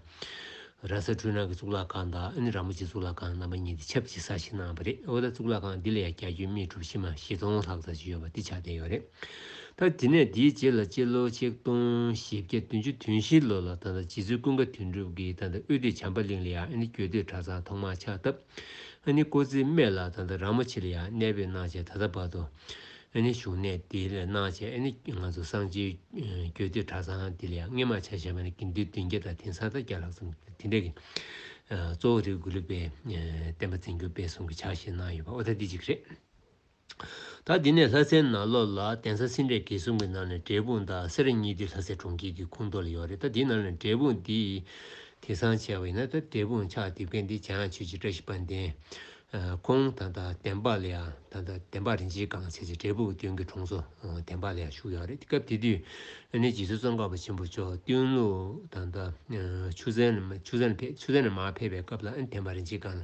ར་ས་འཕྲུལ་སྣང་གི་གཙུག་ལག་ཁང་དང་ཨ་ནི་ར་མོ་ཆེའི་གཙུག་ལག་ཁང་རྣམ་པ་གཉིས་འདི་ཆབས་ཅིག་གསར་བཞེངས་གནང་བ་རེད་འོ་ད་གཙུག་ལག་ཁང་འདི་ལ་ཡང་གྱ་གྱུའི་རྨིས་གྲུབ་ཕྱི་མ་བཞི་སྟོང་ལྷག་ཙམ་ཞིག་ཡོད་པ་འདི་ཆགས་བསྡད་ཡོད་རེད་ད་དེ་ནས་དེའི་རྗེས་ལ་སྤྱི་ལོ་ཆིག་སྟོང་བཞི་བརྒྱ་བདུན་ཅུ་དུན་བཞི་ལོ་ལ་ད་ལྟ་རྗེ་བཙུན་ཀུན་དགའ་དོན་གྲུབ་ཀྱིས་ད་ལྟ་དབུས་སྡེ་བྱམས་པ་གླིང་ལ་ཡང་ཨ་ནི་གྱོད་སྡེ་གྲྭ་ཚང་ཐོག་མར་ཆགས་སྟབས། ཨཱ་ནི་ཀོ་ཙི་སྨྲས་ལ་ད་ལྟ་ར་མ་ཆི་ལ་ཡ་གནས་པའི་སྣང་བྱེད་ད་ལྟ་བར་དུ། ཨཱ་ནི་བཞུགས་གནས་འདི་ལས་སྣང་བྱེད་ཨཱ་ནི་ང་ཚོ་སང་ཆེན་གྱོད་ཏི་གྲ་ཚང་འདི་ལས་རྔན་མ་ཆ་ཞེས་པ་ནི་གིན་འདུས་བདུན་བརྒྱ་དང་དིང་སང་ད་བརྒྱ་ལྷག་ཙམ་དེ་འདྲ་གི། གཙོ་བོ་རེ་དགུ་ལུས་པའི་བསྟན་པ་འཛིན་རྒྱུ་དཔེ་གསུམ་གྱི་ཕྱག་བཞེས་གནང་ཡོད་པ་ཨོ་ད་འདི་གཅིག་རེད། ད་འདི་ནས་ལྷ་སའི་ནང་ལོགས་ལ་གདན་ས་སེ་འབྲས་དགེ་གསུམ་གྱི་ནང་ནས་འབྲས་སྤུངས་དང་སེ་ར་གཉིས་འདི་ལྷ་སའི་གྲོང་ཁྱེར་གྱི་ཁུངས་གཏོགས་ལ་ཡོད་རེད་ད་འདི་ནང་ནས་འབྲས་སྤུངས་འདི་དེང་སང་བྱས་པ་ཡིན་ན་ད་འབྲས་སྤུངས་ཕྱག་འདེབས་མཁན་འདི་བྱ་ཡང་ཆོས་རྗེ་བཀྲ་ཤིས་དཔལ་ལྡན། ཁོང་དང་ད་བདེན་པ་ལ་ཡང་ད་ད་བདེན་པ་རིན་ཆེན་གང་ཟེར་ཅིག་འབྲས་སྤུངས་བསྟུན་གྱི་གྲོང་ཚོ་བདེན་པ་ལ་ཡང་བཞུགས་ཡོད་རེད་སྐབས་དེ་དུས་ཨ་ནེ་རྗེ་བཙུན་ཙོང་ཁ་པ་ཆེན་པོ་མཆོག་བསྟུན་ལུ་དང་ད་ཆུ་ཚན་ནས་མར་ཕེབས་པའི་སྐབས་ལ་ཨ་ནེ་བདེན་པ་རིན་ཆེན་གང་ལ་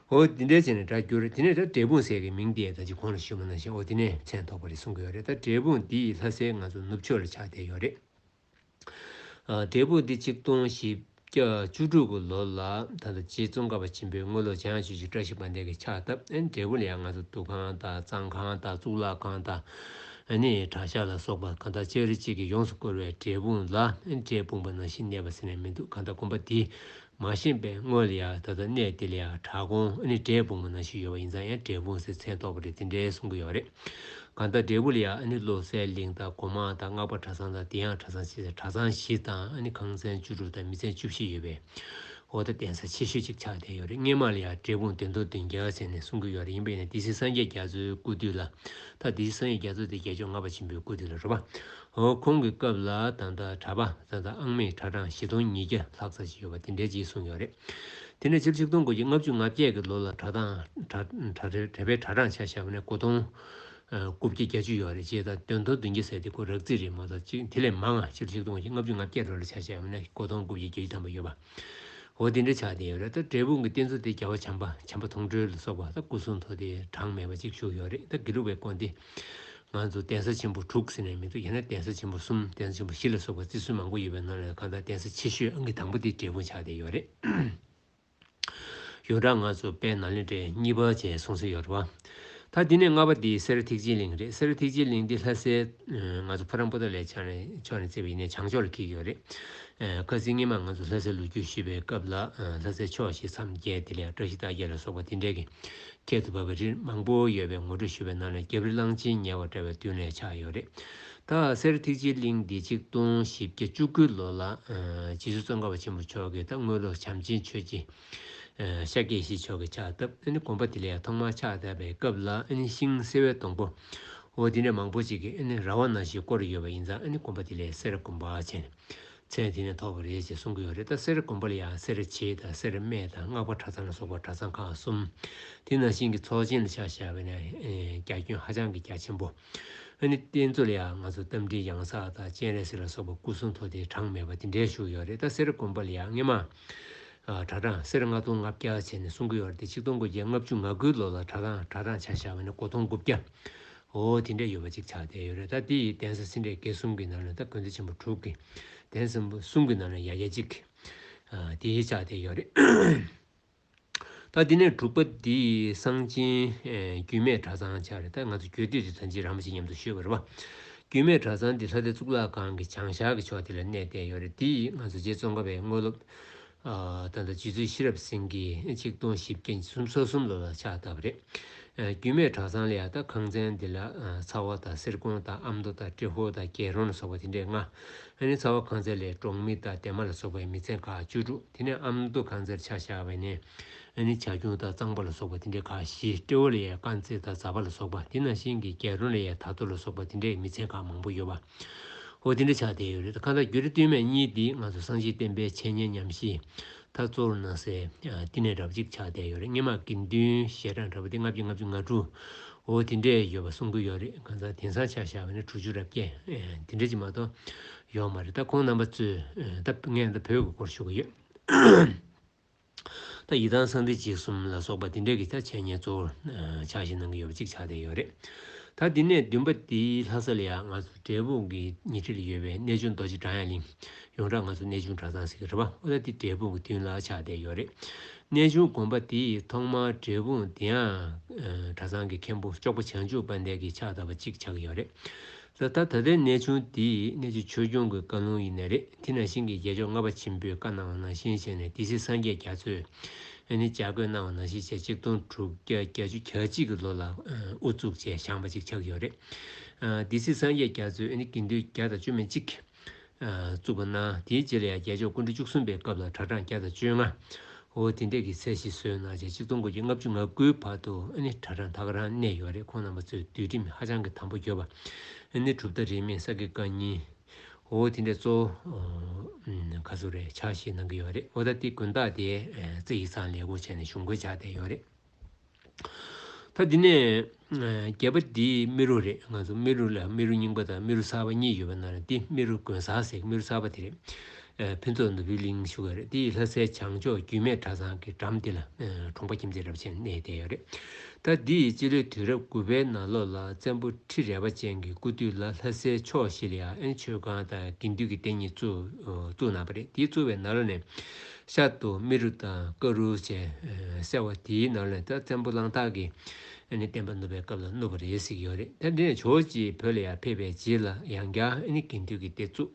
འོ་འདི་འདྲའི་ཆེ་ནས་སྒྲ་བསྒྱུར་དེ་ནས་ད་འབྲས་སྤུངས་ཟེར་གི་མིང་འདི་ད་ཅི་གོང་ལ་ཞུས་མ་གནང་ཞིང་འོ་དེ་ནས་མཚན་ཐོགས་པ་རེད་གསུང་གི་ཡོད་རེད་ད་འབྲས་སྤུངས་འདི་ཡི་ལྷ་སའི་ང་ཚོ་ནུབ་ཕྱོགས་ལ་ཆགས་བསྡད་ཡོད་རེད། འབྲས་སྤུངས་འདི་གཅིག་སྟོང་བཞི་བརྒྱ་བཅུ་དྲུག་གི་ལོ་ལ་ད་ལྟ་རྗེ་ཙོང་ཁ་པ་ཆེན་པོའི་དངོས་སློབ་བྱང་ཆོས་ཀྱི་བཀྲ་ཤིས་པ་འདས་ཀྱི་ཕྱག་བཏབ་ཨེ་འབྲས་སྤུངས་ལ་ཡང་ང་ཚོ་འདུ་ཁང་དང་གཙང་ཁང་དང་གཙུག་ལག་ཁང་དང་ཨེ་ནི་གྲྭ་ཤག་ལ་སོགས་པ་གང་དག་ཅི་རིགས་གཅིག་གིས་ཡོངས་སུ་བསྐོར་བའི་འབྲས་སྤུངས་ལ་འབྲས་སྤུངས་པ་ནང་བཞིན་གནས་པ་ཟེར་ནས་མི་འདུག་གང་ལྟར་དགོན་པ་འདི་མ་ཤེས་པས་དངོས་ལ་ཡང་ད་ལྟ་གནས་དེ་ལ་ཡང་བྲག་སྒོང་ཨ་ནི་འབྲས་སྤུངས་མ་ན་ཞིག་ཡོད་པ་ཡིན་ཙང་ཡང་འབྲས་སྤུངས་ཟེར་མཚན་གཏོགས་པ་རེད་དེ་འདྲའི་གསུང་གི་ཡོད་རེད། གང་ལྟར་འབྲས་བུ་ལ་ཡང་ཨ་ནི་བློ་གསལ་གླིང་དང་སྒོ་མང་དང་སྔགས་པ་གྲྭ་ཚང་དང་དེའང་གྲྭ་ཚང་བཞི་ཟེར་གྲྭ་ཚང་བཞི་དང་ཨ་ནི་ཁང་ཚན་བཅུ་དྲུག་དང་མི་ཚན་བཅུ་བཞི་ཡོད་པའི་འོག་ཏུ་གདན་ས་ཆེ་ཤོས་གཅིག་ཆགས་བསྡད་ཡོད་རེད་སྔས་མ་ལ་ཡང་འབྲས་སྤུངས་བདེ་མདོ་བདུན་རྒྱལ་ཟེར་ནས་གསུང་གི་ཡོད་རེད་ཡིན་པ་ཡིན་ན་སྡེ་སྲིད་སངས་རྒྱས་རྒྱ་མཚོའི་སྐུ་དུས་ལ་ད་སྡེ་སྲིད་སངས་རྒྱས་རྒྱ་མཚོ་དེ་རྒྱལ་མཆོག་ལྔ་པ་ཆེན་པོའི་སྐུ་དུས་ལ་རོལ་བ་འོ་ཁོང་གི་སྐབས་ལ་ད་ལྟ་གྲྭ་པ་བཟའ་ཟླ་ཨང་མེད་གྲྭ་གྲངས་བཞི་སྟོང་ཉིས་བརྒྱ་ལྷག་ཚར་གྱི་ཡོད་པ་དེ་འདྲའི་གཅིག་གསུངས་ཡོད་རེད། དེ་ནས་སྤྱིར་ཆིག་སྟོང་དགུ་བརྒྱ་ལྔ་བཅུ་ང་བརྒྱད་ཀྱི་ལོ་ལ་གྲྭ་ཐང་གྲྭ་པའི་གྲྭ་གྲངས་ཆ་ཞག་པ་ནས་དགུ་སྟོང་དགུ་བརྒྱ་གྱ་བཅུ་ཡོད་རེད་ཅེས་དང་དོན་ཐོག་བདུན་བརྒྱ་ཟེར་དེ་ཁོ་རག་རྩིས་རེད་མ་གཏོགས་དེ་ལས་མང་ང་སྤྱིར་ཆིག་སྟོང་དགུ་བརྒྱ་ལྔ་བཅུ་ང་བརྒྱད་ལོ་ལ་ཆ་ཞག་པ་ནས་དགུ་སྟོང་དགུ་བརྒྱ་གྱ་བཅུ་ཐམ་པ་ཡོད་པ། འོ་དེ་འདྲའི་ཆ་དེ་ཡོད་རེད་ད་འབྲས་སྤུངས་ཀྱི་རྟེན་གཙོ་དེ་རྒྱལ་བ་བྱམས་པ་བྱམས་པ་མཐོང་གྲོལ་ལ་སོགས་པ་ད་སྐུ་གསུང་ཐུགས་དེ་གྲངས་མེད་པ་གཅིག་བཞུགས་ཡོད་རེད་ད་དགེ་ལུགས་པའི་དཀོན་དེ་ང་ཚོ་གདན་ས་ཆེན་པོ་དྲུག་ཟེར་ནས་མི་འདུག་ཡིན་ན་གདན་ས་ཆེན་པོ་གསུམ་གདན་ས་ཆེན་པོ་བཞི་ལ་སོགས་པ་རྩིས་སྲོལ་མང་པོ་ཡོད་པའི་ནང་ལས་གང་དག་གདན་ས་ཆེ་ཤོས་ཨང་ཀི་དང་པོ་དེ་འབྲས་སྤུངས་ཆ་དེ་ཡོད་རེད། ཡོད་གྲང་ང་ཚོ་དཔལ་ནཱ་ལེནྡྲའི་གཉིས་པ་བཅས་གསུང་སྲོལ་ཡོད་རེད་བ། ད་འདི་ནས་ལྔ་པ་འདི་གསེར་ཐིག་སྤྱི་གླིང་རེད་གསེར་ཐིག་སྤྱི་གླིང་འདི་ལྷ་སའི་ང་ཚོ་ཕོ་རང་པོ་ཏོ་ལས་ཕྱག་ནས་ཕྱོགས་ནས་བརྩིགས་པ་ཡིན་ནས་བྱང་ཕྱོགས་ལ་འཁེལ་གི་ཡོད་རེད། བཀའ་སྩིས་སྔེ་མ་ང་ཚོ་ལྷ་སའི་ལོ་རྒྱུས་ཞིབ་པའི་སྐབས་ལ་ལྷ་སའི་ཕྱོགས་ཞེས་མཚམས་བརྒྱད་དེ་ལས་བཀྲ་ཤིས་རྟགས་བརྒྱད་ལ་སོགས་པ་དེ་འདྲའི་གི་ཁྱད་དུ་བབས་པའི་རིར་མང་པོ་ཡོད་པའི་ངོ་སྤྲོད་ཞུས་པའི་ནང་ནས་རྒྱབ་རི་གླང་ཆེན་ཉལ་བ་འདྲ་བའི་མདུན་ལས་ཆགས་ཡོད་རེད། ད་གསེར་ཐིག་སྤྱི་གླིང་འདི་ཆིག་སྟོང་བཞི་བརྒྱ་བཅུ་དགུ་ལོ་ལ་རྗེ་བཙུན་གཙང་ཁ་བ་ཆེན་པོ་མཆོག་གིས་ད་དངུལ་ལོར་བྱམས་ཆེན་ཆོས་རྗེ་ཤཱཀྱའི་བཞི་མཆོག་གི་ཕྱག་བཏབ། དགོངས་པ་དེ་ལས་ཐོག་མར་ཕྱག་བཏབ་པའི་སྐབས་ལ་ཤིང་བསིལ་བའི་སྡོང་པོ་འོ་དེ་འདྲ་མང་པོ་ཅིག་གིས་ར་བ་ན་ཞིག་བསྐོར་ཡོད་པ་ཡིན་ཙང་དགོངས་པ་དེ་ལས་གསེར་སྒོམ་པ་བྱས་ནས་ཚེ་དེ་ནས་ཐོབ་པ་རེད་ཅེས་གསུང་གི་ཡོད་རེད་ད་གསེར་སྒོམ་པ་ལ་ཡང་གསེར་བྱེའི་དང་གསེར་སྨད་དང་སྔགས་པ་གྲ་ཚང་ལ་སོགས་པ་གྲ་ཚང་ཁག་གསུམ་དེ་ནང་བཞིན་གྱི་ཚོགས་ཆེན་ལ་ཕྱག་བཞག་པས་ན་རྒྱ་ཁྱོན་ཧ་ཅང་གི་རྒྱ་ཆེན་པོ། རྟེན་གཙོ་ལ་ཡང་ང་ཚོ་རྟ་མགྲིན་གཡང་གཟར་དང་སྤྱན་རས་གཟིགས་ལ་སོགས་པ་སྐུ་གསུང་ཐུགས་རྟེན་གྲངས་མེད་པ་དེ་འདྲས་བཞུགས་ཡོད་རེད་ད་གསེར་སྒོམ་པ་ལ་ཡང་སྔས་མ། གྲྭ་གྲངས་སེར་ལྔ་སྟོང་ལྔ་བརྒྱ་བྱས་ནས་སྲུང་གི་ཡོད་རེད་དེ་ཆིག་སྟོང་དགུ་བརྒྱ་ལྔ་བཅུ་ང་དགུའི་ལོ་ལ་གྲྭ་གྲངས་གྲྭ་གྲངས་ཆ་བཞག་པ་ནི་དགུ་སྟོང་དགུ་བརྒྱ་འོ་དེ་འདྲས་ཡོད་པ་ཅིག་ཆགས་བསྡད་ཡོད་རེད་ད་དེ་ཡི་གདན་ས་སེ་འབྲས་དགེ་གསུམ་གྱི་ནང་ནས་ད་དགོན་སྡེ་ཆེན་པོ་དྲུག་གི་གདན་ས་གསུམ་གྱི་ནང་ནས་ཡ་གྱ་གཅིག་དེ་ཆགས་བསྡད་ཡོད་རེད། ད་འདི་ནས་དྲུག་པ་འདི་གསང་ཆེན་རྒྱུད་སྨད་གྲྭ་ཚང་ཆགས་རེད་ད་ང་ཚོ་གྱོད་དུས་འདི་ད་འཇིགས་རམ་ཞིག་མཉམ་དུ་ཞུས་པར་བ། རྒྱུད་སྨད་གྲྭ་ཚང་འདི་ལྷ་སྡེ་གཙུག་ལག་ཁང་གི་བྱང་ཤར་གྱི་ཕྱོགས་འདི་ལ་གནས་བསྡད་ཡོད་རེད་འདི་ང་ཚོ་རྗེ་ཙོང་ཁ་པའི་དངོས་སློབ་ད་ལྟ་རྗེ་བཙུན་ཤེས་རབ་སེང་གེ་ཆིག་སྟོང་བཞི་བརྒྱ་ཉི་གསུམ་སོ་གསུམ་ལོ་ལ་ཕྱག་བཏབ་པ་རེད། རྒྱུད་སྨད་གྲྭ་ཚང་ལ་ཡང་ད་ཁང་ཚན་འདི་ལ་ཚ་བ་དང་གསེར་ཀོང་དང་ཨ་མདོ་དང་ཏྲེ་ཧོ་དང་རྒྱལ་རོང་ལ་སོགས་པ་དེ་འདྲས་ལྔ། ཨ་ནི་ཚ་བ་ཁང་ཚན་ལས་འབྲོག་མི་དང་འདན་མ་ལ་སོགས་པའི་མི་ཚན་ཁག་བཅུ་དྲུག། དེ་ནས་ཨམ་མདོ་ཁང་རྩེར་ཕྱག་བཞག་པས་ནི། ནི་བྱ་ཁྱུང་དང་གཙང་པོ་ལ་སོགས་པ་དེ་འདྲའི་ཁ་བཞི་སྤྲེའུ་ལ་ཡའི་དཀར་མཛེས་དང་རྫ་པ་ལ་སོགས་པ་དེ་ནང་བཞིན་གྱི་རྒྱལ་རོང་ལ་ཡའི་དར་ཐོ་ལ་སོགས་པ་དེ་འདྲའི་མི་ཆེན་ཁག་མང་པོ་ཡོད་པ་འོ་དེ་འདྲའི་ཕྱག་བསྟན་ཡོད་རེད་ཁ་བརྡ་བརྒྱུད་རེ་བསྟུན་མས་གཉིས་འདིས་ང་ཚོ་སངས་རྒྱས་བསྟན་པའི་འཆད་ཉན་ཉམས་བཞེས་མཐའ་གཙོར་གནང་སའི་བསྟི་གནས་གྲབས་གཅིག་ཕྱག་བསྟན་ཡོད་རེད་སྙེ་མ་དགེ་འདུན་ཞལ་གྲངས་གྲབས་དེ་ལྔ་བརྒྱ་ལྔ་བཅུ་ང་དྲུག་འོ་དེ་འདྲའི་ཡོད་པ་གསུང་གི་ཡོད་རེད་གང་ཟག་དེང་སང་ཕྱག་བཞག་པ་ནི་དྲུག་ཅུ་རབ་བརྒྱད་དེ་འདྲ་ཅིག་མ་གཏོགས། ཡོད་མ་རེད་ད་ཁོང་རྣམ་པ་ཚོས་ད་ངས་ད་བོད་ཀྱི་སྐོར་ཞུ་གི་ཡོད། ད་ཡི་དྭགས་གསང་འདི་འཇིགས་གསུམ་ལ་སོགས་པ་འདི་འདྲ་གི་ད་འཆད་ཉན་གཙོ་བོར་ཆགས་བཞིན་གནང་གི་ཡོད་པ་གཅིག་ཆགས་བསྡད་ཡོད་རེད། ད་འདི་ནས་བདུན་པ་འདི་ལྷ་ས་ལ་ཡང་ང་ཚོ་འབྲས་སྤུངས་ཀྱི་ཉེ་འཁྲིས་ལ་ཡོད་པའི་གནས་ཆུང་རྡོ་རྗེ་བྲག་ཡང་གླིང་ཡོངས་གྲགས་ང་ཚོ་གནས་ཆུང་གྲྭ་ཚང་ཟེར་གི་རེད་པ་ཨོ་ད་འདི་འབྲས་སྤུངས་ཀྱི་མདུན་ལ་ཆགས་བསྡད་ཡོད་རེད། གནས་ཆུང་དགོན་པ་འདི་ཐོག་མར་འབྲས་སྤུངས་འདི་ཡང་གྲྭ་ཚང་གི་མཁན་པོ་ཅོག་པ་བྱང་ཆུབ་དཔལ་ལྡན་གྱིས་ཕྱག་བཏབ་པ་གཅིག་ཆགས་ཀྱི་ཡོད་རེད། ད་ལྟ་ད་ལྟའི་གནས་ཆུང་འདི་ཡི་གནས་ཀྱི་ཆོས་སྐྱོང་གི་བཀའ་ལུང་ཡིན་ནི་རེད་དེ་ནང་བཞིན་གྱི་རྒྱལ་མཆོག་ལྔ་པ་ཆེན་པོའི་བཀའ་གནང་བ་ནང་བཞིན་བྱས་ནས་དེ་སྲིད་སངས་རྒྱས་རྒྱ་མཚོས་ནི་ལྕགས་སྐོས་གནང་བ་ནང་བཞིན་བྱས་གཅིག་སྟོང་དྲུག་བརྒྱ་གྱ་བཅུ་གྱ་གཅིག་གི་ལོ་ལ་ཨུ་བཙུགས་བཅས་བཞེངས་པ་ཅིག་ཆགས་ཀྱི་ཡོད་རེད་དེ་སྲིད་སངས་རྒྱས་རྒྱ་མཚོས་ནི་དགེ་འདུན་བརྒྱ་དང་བཅུ་མན་གཅིག་བཙུགས་པ་གནང། དེའི་རྗེས་ལ་ཡང་རྒྱལ་མཆོག་སྐུ་མགྲོན་བཅུ་གསུམ་པའི་སྐབས་ལ་གྲྭ་གྲངས་བརྒྱ་དང་བཅོ་ལྔ། འོ་དེ་འདྲ་གི་ཚད་ཞིག་བཟོས་གནང་བྱས་གཅིག་སྟོང་དགུ་བརྒྱ་ལྔ་བཅུ་ང་དགུའི་བར་དུ་ཨ་ནི་གྲྭ་གྲངས་དག་རང་གནས་ཡོད་རེད་ཁོང་རྣམ་པ་ཚོའི་འདུལ་ཁྲིམས་ཧ་ཅང་གི་དམ་པོ་གྱུར་པ། ཨ་ནི་གྲུབ་མཐའ་རིས་མེད་ས་དགེ་བཀའ་རྙིང། འོ་དེ་འདྲ་གཙོ་བོ་ག་ཚོད་རེད་ཆགས་ཤིག་གནང་གི་ཡོད་རེད་འོ་ད་ལྟའི་དགོན་བདག་དེས་རྩིས་ཡིག་ཚང་ལས་ཁུངས་བྱས་ནས་གཞུང་བཀོད་བྱ་བསྡད་ཡོད་རེད། ད་འདི་ནས། རྒྱལ་པོ་འདི་རྨེ་རུ་རེད་ང་ཚོ་རྨེ་རུ་ལ་རྨེ་རུ་རྙིང་པ་དང་རྨེ་རུ་གསར་པ་གཉིས་ཡོད་པ་ན་རེ་འདི་རྨེ་རུ་དགོན་གསར་ཟེར་རྨེ་རུ་གསར་པ་འདི་རེད། ཕུན་ཚོགས་ནོར་བུའི་གླིང་ཞུ་བ་རེད་འདི་ཡི་ལྷ་སའི་བྱང་ཕྱོགས་རྒྱུད་སྨད་གྲྭ་ཚང་གི་འགྲམ་འདི་ལ་གྲོང་པ་ཁྱིམ་མཚེས་རབ་ཆེན་གནས་བསྡད་ཡོད་རེད། ད་འདི་ཡི་སྤྱི་ལོའི་དུས་རབས་དགུ་པའི་ནང་ལོ་ལ་བཙན་པོ་ཁྲི་རལ་པ་ཅན་གྱི་སྐུ་དུས་ལ་ལྷ་སའི་ཕྱོགས་བཞི་ལ་ཡང་ཨེན་ཆོས་ཁང་དང་དགེ་འདུན་གྱི་སྡེ་གཉིས་བཙུགས་གནང་པ་རེད་འདི་བཙུགས་པའི་ནང་ལོ་ནས། ཤ་དུ་མི་རུ་དང་ཀ་རུ་བཅས་གསལ་བ་དེའི་ནང་ལས་ད་བཙན་པོ་གླང་སྟག་གིས་ཨནི་བསྟན་པ་ནུབ་པའི་སྐབས་ལ་བསྣུབས་པ་རེད་ཟེར་གྱི་ཡོད་རེད་ད་འདི་ནས་ཇོ་བྱེད་བོད་ལ་ཡར་ཕེབས་པའི་རྗེས་ལ་ཡང་བསྐྱར་ཨནི་དགེ་འདུན་གྱི་སྡེ་བཙུགས།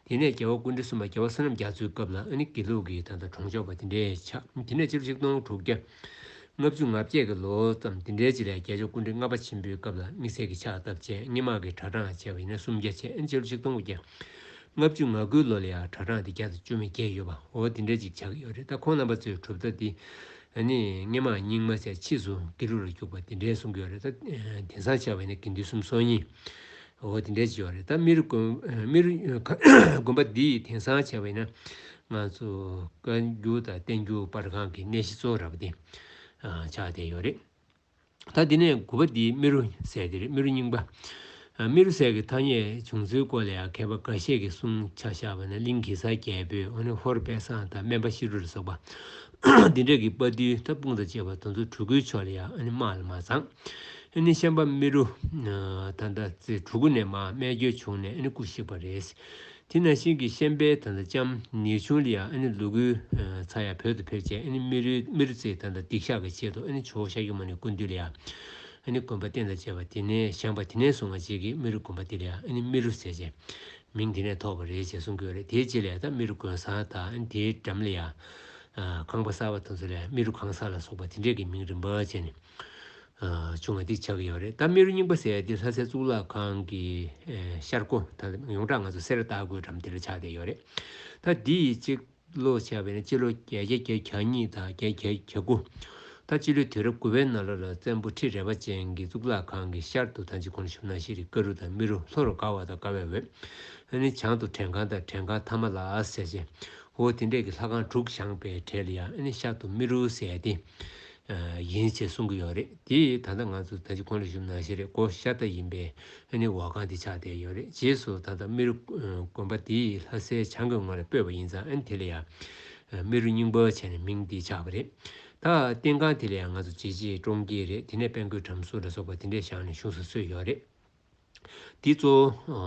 དེ་ནས་རྒྱལ་བ་ཀུན་འདུས་སྲུང་མ་རྒྱལ་བ་བསོད་ནམས་རྒྱ་མཚོའི་སྐབས་ལ་ཨནི་དགེ་ལུགས་ཀྱི་ད་ལྟ་གྲོང་ཆོག་པ་དེ་འདྲས་ཆགས་དེ་ནས་སྤྱི་ལོ་ཆིག་སྟོང་དྲུག་བརྒྱ། ལྔ་བཅུ་ང་བརྒྱད་ཀྱི་ལོ་ཙམ་དེ་འདྲའི་རྗེས་ལ་རྒྱལ་མཆོག་ཀུན་འདྲི་ལྔ་པ་ཆེན་པོའི་སྐབས་ལ་དམིགས་བསལ་གྱི་ཕྱག་བཏབ་བཅས་སྙེ་མང་གི་གྲྭ་གྲངས་བཅས་པ་ཡིན་ན་སུམ་བརྒྱ་བཅས་ཨནི་སྤྱི་ལོ་ཆིག་སྟོང་དགུ་བརྒྱ། ལྔ་བཅུ་ང་དགུའི་ལོ་ལ་ཡང་གྲྭ་གྲངས་དེ་བརྒྱ་དང་བཅོ་མི་བརྒྱད་ཡོད་པའོ་དེ་འདྲ་ཅིག་ཆགས་ཀྱི་ཡོད་རེད་ད་ཁོང་རྣམ་པ་ཚོའི་གྲུབ་མཐའ་དེ་ནི་སྔས་མ་རྙིང་མ་ཆ་ཕྱིས་སུ་དགེ་ལུགས་ལ་རྒྱུགས་པ་དེ་འདྲའི་གསུང་གི་ཡོད་རེད་ད་དེང་སང་ཆགས་པའི་ནི་དགེ་འདུན་གསུམ་སོ་གཉིསའོ་དེ་འདྲ་ཅིག་ཡོད་རེད་ད་མི་རུ་མི་རུ་དགོན་པ་འདི་དེང་སང་ཆགས་པའི་ན་ང་ཚོ་བཀའ་འགྱུར་དང་བསྟན་འགྱུར་དཔར་ཁང་གི་གནས་གཞི་གཙོ་བོ་ར་བ་དེ་ཆགས་བསྡད་ཡོད་རེད། ད་འདི་ནས་དགུ་པ་འདིའི་རྨི་རུ་ཟས་དེ་རྨི་རུ་རྙིང་པ། རྨི་རུ་ཟས་ཀྱི་ཐ་སྙད་བྱུང་ཚུལ་སྐོར་ལ་ཡང་མཁས་པ་འགའ་ཤས་ཀྱིས་གསུང་ཆ་བཞག་པ་ན་གླིང་གེ་སར་རྒྱལ་པོས་ཧོར་དཔལ་བཟང་དང་སྨན་པ་ཤི་རུ་ལ་སོགས་པ། འདི་འདྲ་གི་དཔའ་རྟུལ་ཐབ་སྤུངས་དང་བཅས་པ་དོན་གཙོ་གྲུ་གུའི་ཕྱོགས་ལ་ཡང་སྨྲ་ལ་མ་བརྫང། ཤན་པ་རྨི་རུ་ཐ་མདའ་ཚེ་གྲུ་གུ་ནས་མ་སྨད་རྒྱུ་བྱུང་ནས་སྐུ་གཤེགས་པ་རེད། དེ་ནས་ཤིང་གི་ཤན་པའི་དང་ལྕམ་ནེའུ་ཆུང་ལི་ཡང་ལུ་གུའི་ཚ་ཡ་བོད་དུ་ཕེབས་རྗེས་རྨི་རྩིས་དང་སྡིག་བཤགས་ཀྱི་ཆེད་དུ་ཆུ་བོ་ཤ་ཁྱུང་མ་ནས་ཀུན་འདུས་ལི་ཡ་དགོན་པ་རྟེན་དང་བཅས་པ་དེ་ནས་བཞེངས་པ་དེ་ནས་བཟུང་བ་རྗེས་ཀྱི་རྨི་རུ་དགོན་པ་དེ་ལི་ཡ་རྨི་རུ་ཟེར་ཅེས་མིང་དེ་ནས་ཐོགས་པ་རེད་ཅེས་གསུངས་ཀྱི་ཡོད་རེད་དེའི་རྗེས་ལས་ད་རྨི་རུ་དགོན་གསར་དང་དེའི་འགྲམ་ལི་ཡ་ཁང་པ་གསར་བ་དང་ཚུར་ལས་རྨི་རུ་ཁང་གསར་ལ་སོགས་པ་དེ་འདྲས་ཀྱི་མིང་རིམ་པར་སྤྱད་ནས་བྱུང་བ་འདི་ཆགས་ཀྱི་ཡོད་རེད་ད་རྨེ་རུ་རྙིང་པ་ཟེར་ཡ་འདི་ལྷ་སའི་གཙུག་ལག་ཁང་གི་ཤར་སྒོ་ད་ཡོངས་གྲགས་ང་ཚོ་གསེར་རྟ་དགོད་གྲམ་དེ་རུ་ཆགས་བསྡད་ཡོད་རེད་ད་འདི་ཡི་སྤྱི་ལོ་ཆགས་པས་ན་སྤྱི་ལོ་གྱ་བརྒྱད་བརྒྱད་གྱ་གཉིས་དང་བརྒྱད་བརྒྱད་གྱ་དགུ་ད་སྤྱི་ལོའི་དུས་རབས་དགུ་བའི་ནང་ལོ་ལ་བཙན་པོ་ཁྲི་རལ་པ་ཅན་གྱི་གཙུག་ལག་ཁང་གི་ཤར་དུ་ད་འཇིགས་གོང་ཞུ་ན་ཤེས་རིག་ཀ་རུ་དང་རྨེ་རུ་ལྷོ་རུ་དགའ་བ་དང་དགའ་བའི་འོད་ཨ་ནི་བྱང་དུ་བྲན་ཁང་དང་བྲན་ཁང་ཐ་མ་ལ་ཟེར་ཅེ་ཧོ་དེ་འདྲས་ཀྱི་ལྷ་ཁང་དྲུག་བཞེངས་པའི་གྲས་ལ་ཡང་ཨ་ནི་ཤར་དུ་རྨེ་རུ་ཟེར་ཏེ། ཡིན་ཅེས་གསུང་གི་ཡོད་རེད་དེ་ད་ལྟ་ང་ཚོ་ད་ཅི་ཁོང་ལ་ཞུམ་ནང་བཞིན་རེད་སྒོ་ཤ་སྟག་ཡིན་པས་ཨ་ནི་འོག་ཁང་དེ་ཆགས་བསྡད་ཡོད་རེད་རྗེས་སུ་ད་ལྟ་རྨེ་རུ་དགོན་པ་དེ་ལྷ་སའི་བྱང་གི་ངོས་ལ་སྤོས་པ་ཡིན་ཙང་ཨ་ནི་དེ་ལ་ཡང་རྨེ་རུ་རྙིང་པ་བྱས་ནས་མིང་དེ་ཆགས་པ་རེད་ད་རྟེན་ཁང་དེ་ལ་ཡང་ང་ཚོ་བྱེས་བྱེས་བཀྲོངས་ཀྱི་རེད་དེ་ནས་དཔལ་མགོན་བྲམ་ཟུ་ལ་སོགས་པ་དེ་འདྲས་བཞག་ནས་བཞུགས་ས་སུས་ཡོད་རེད། འདི་གཙོ་བོ་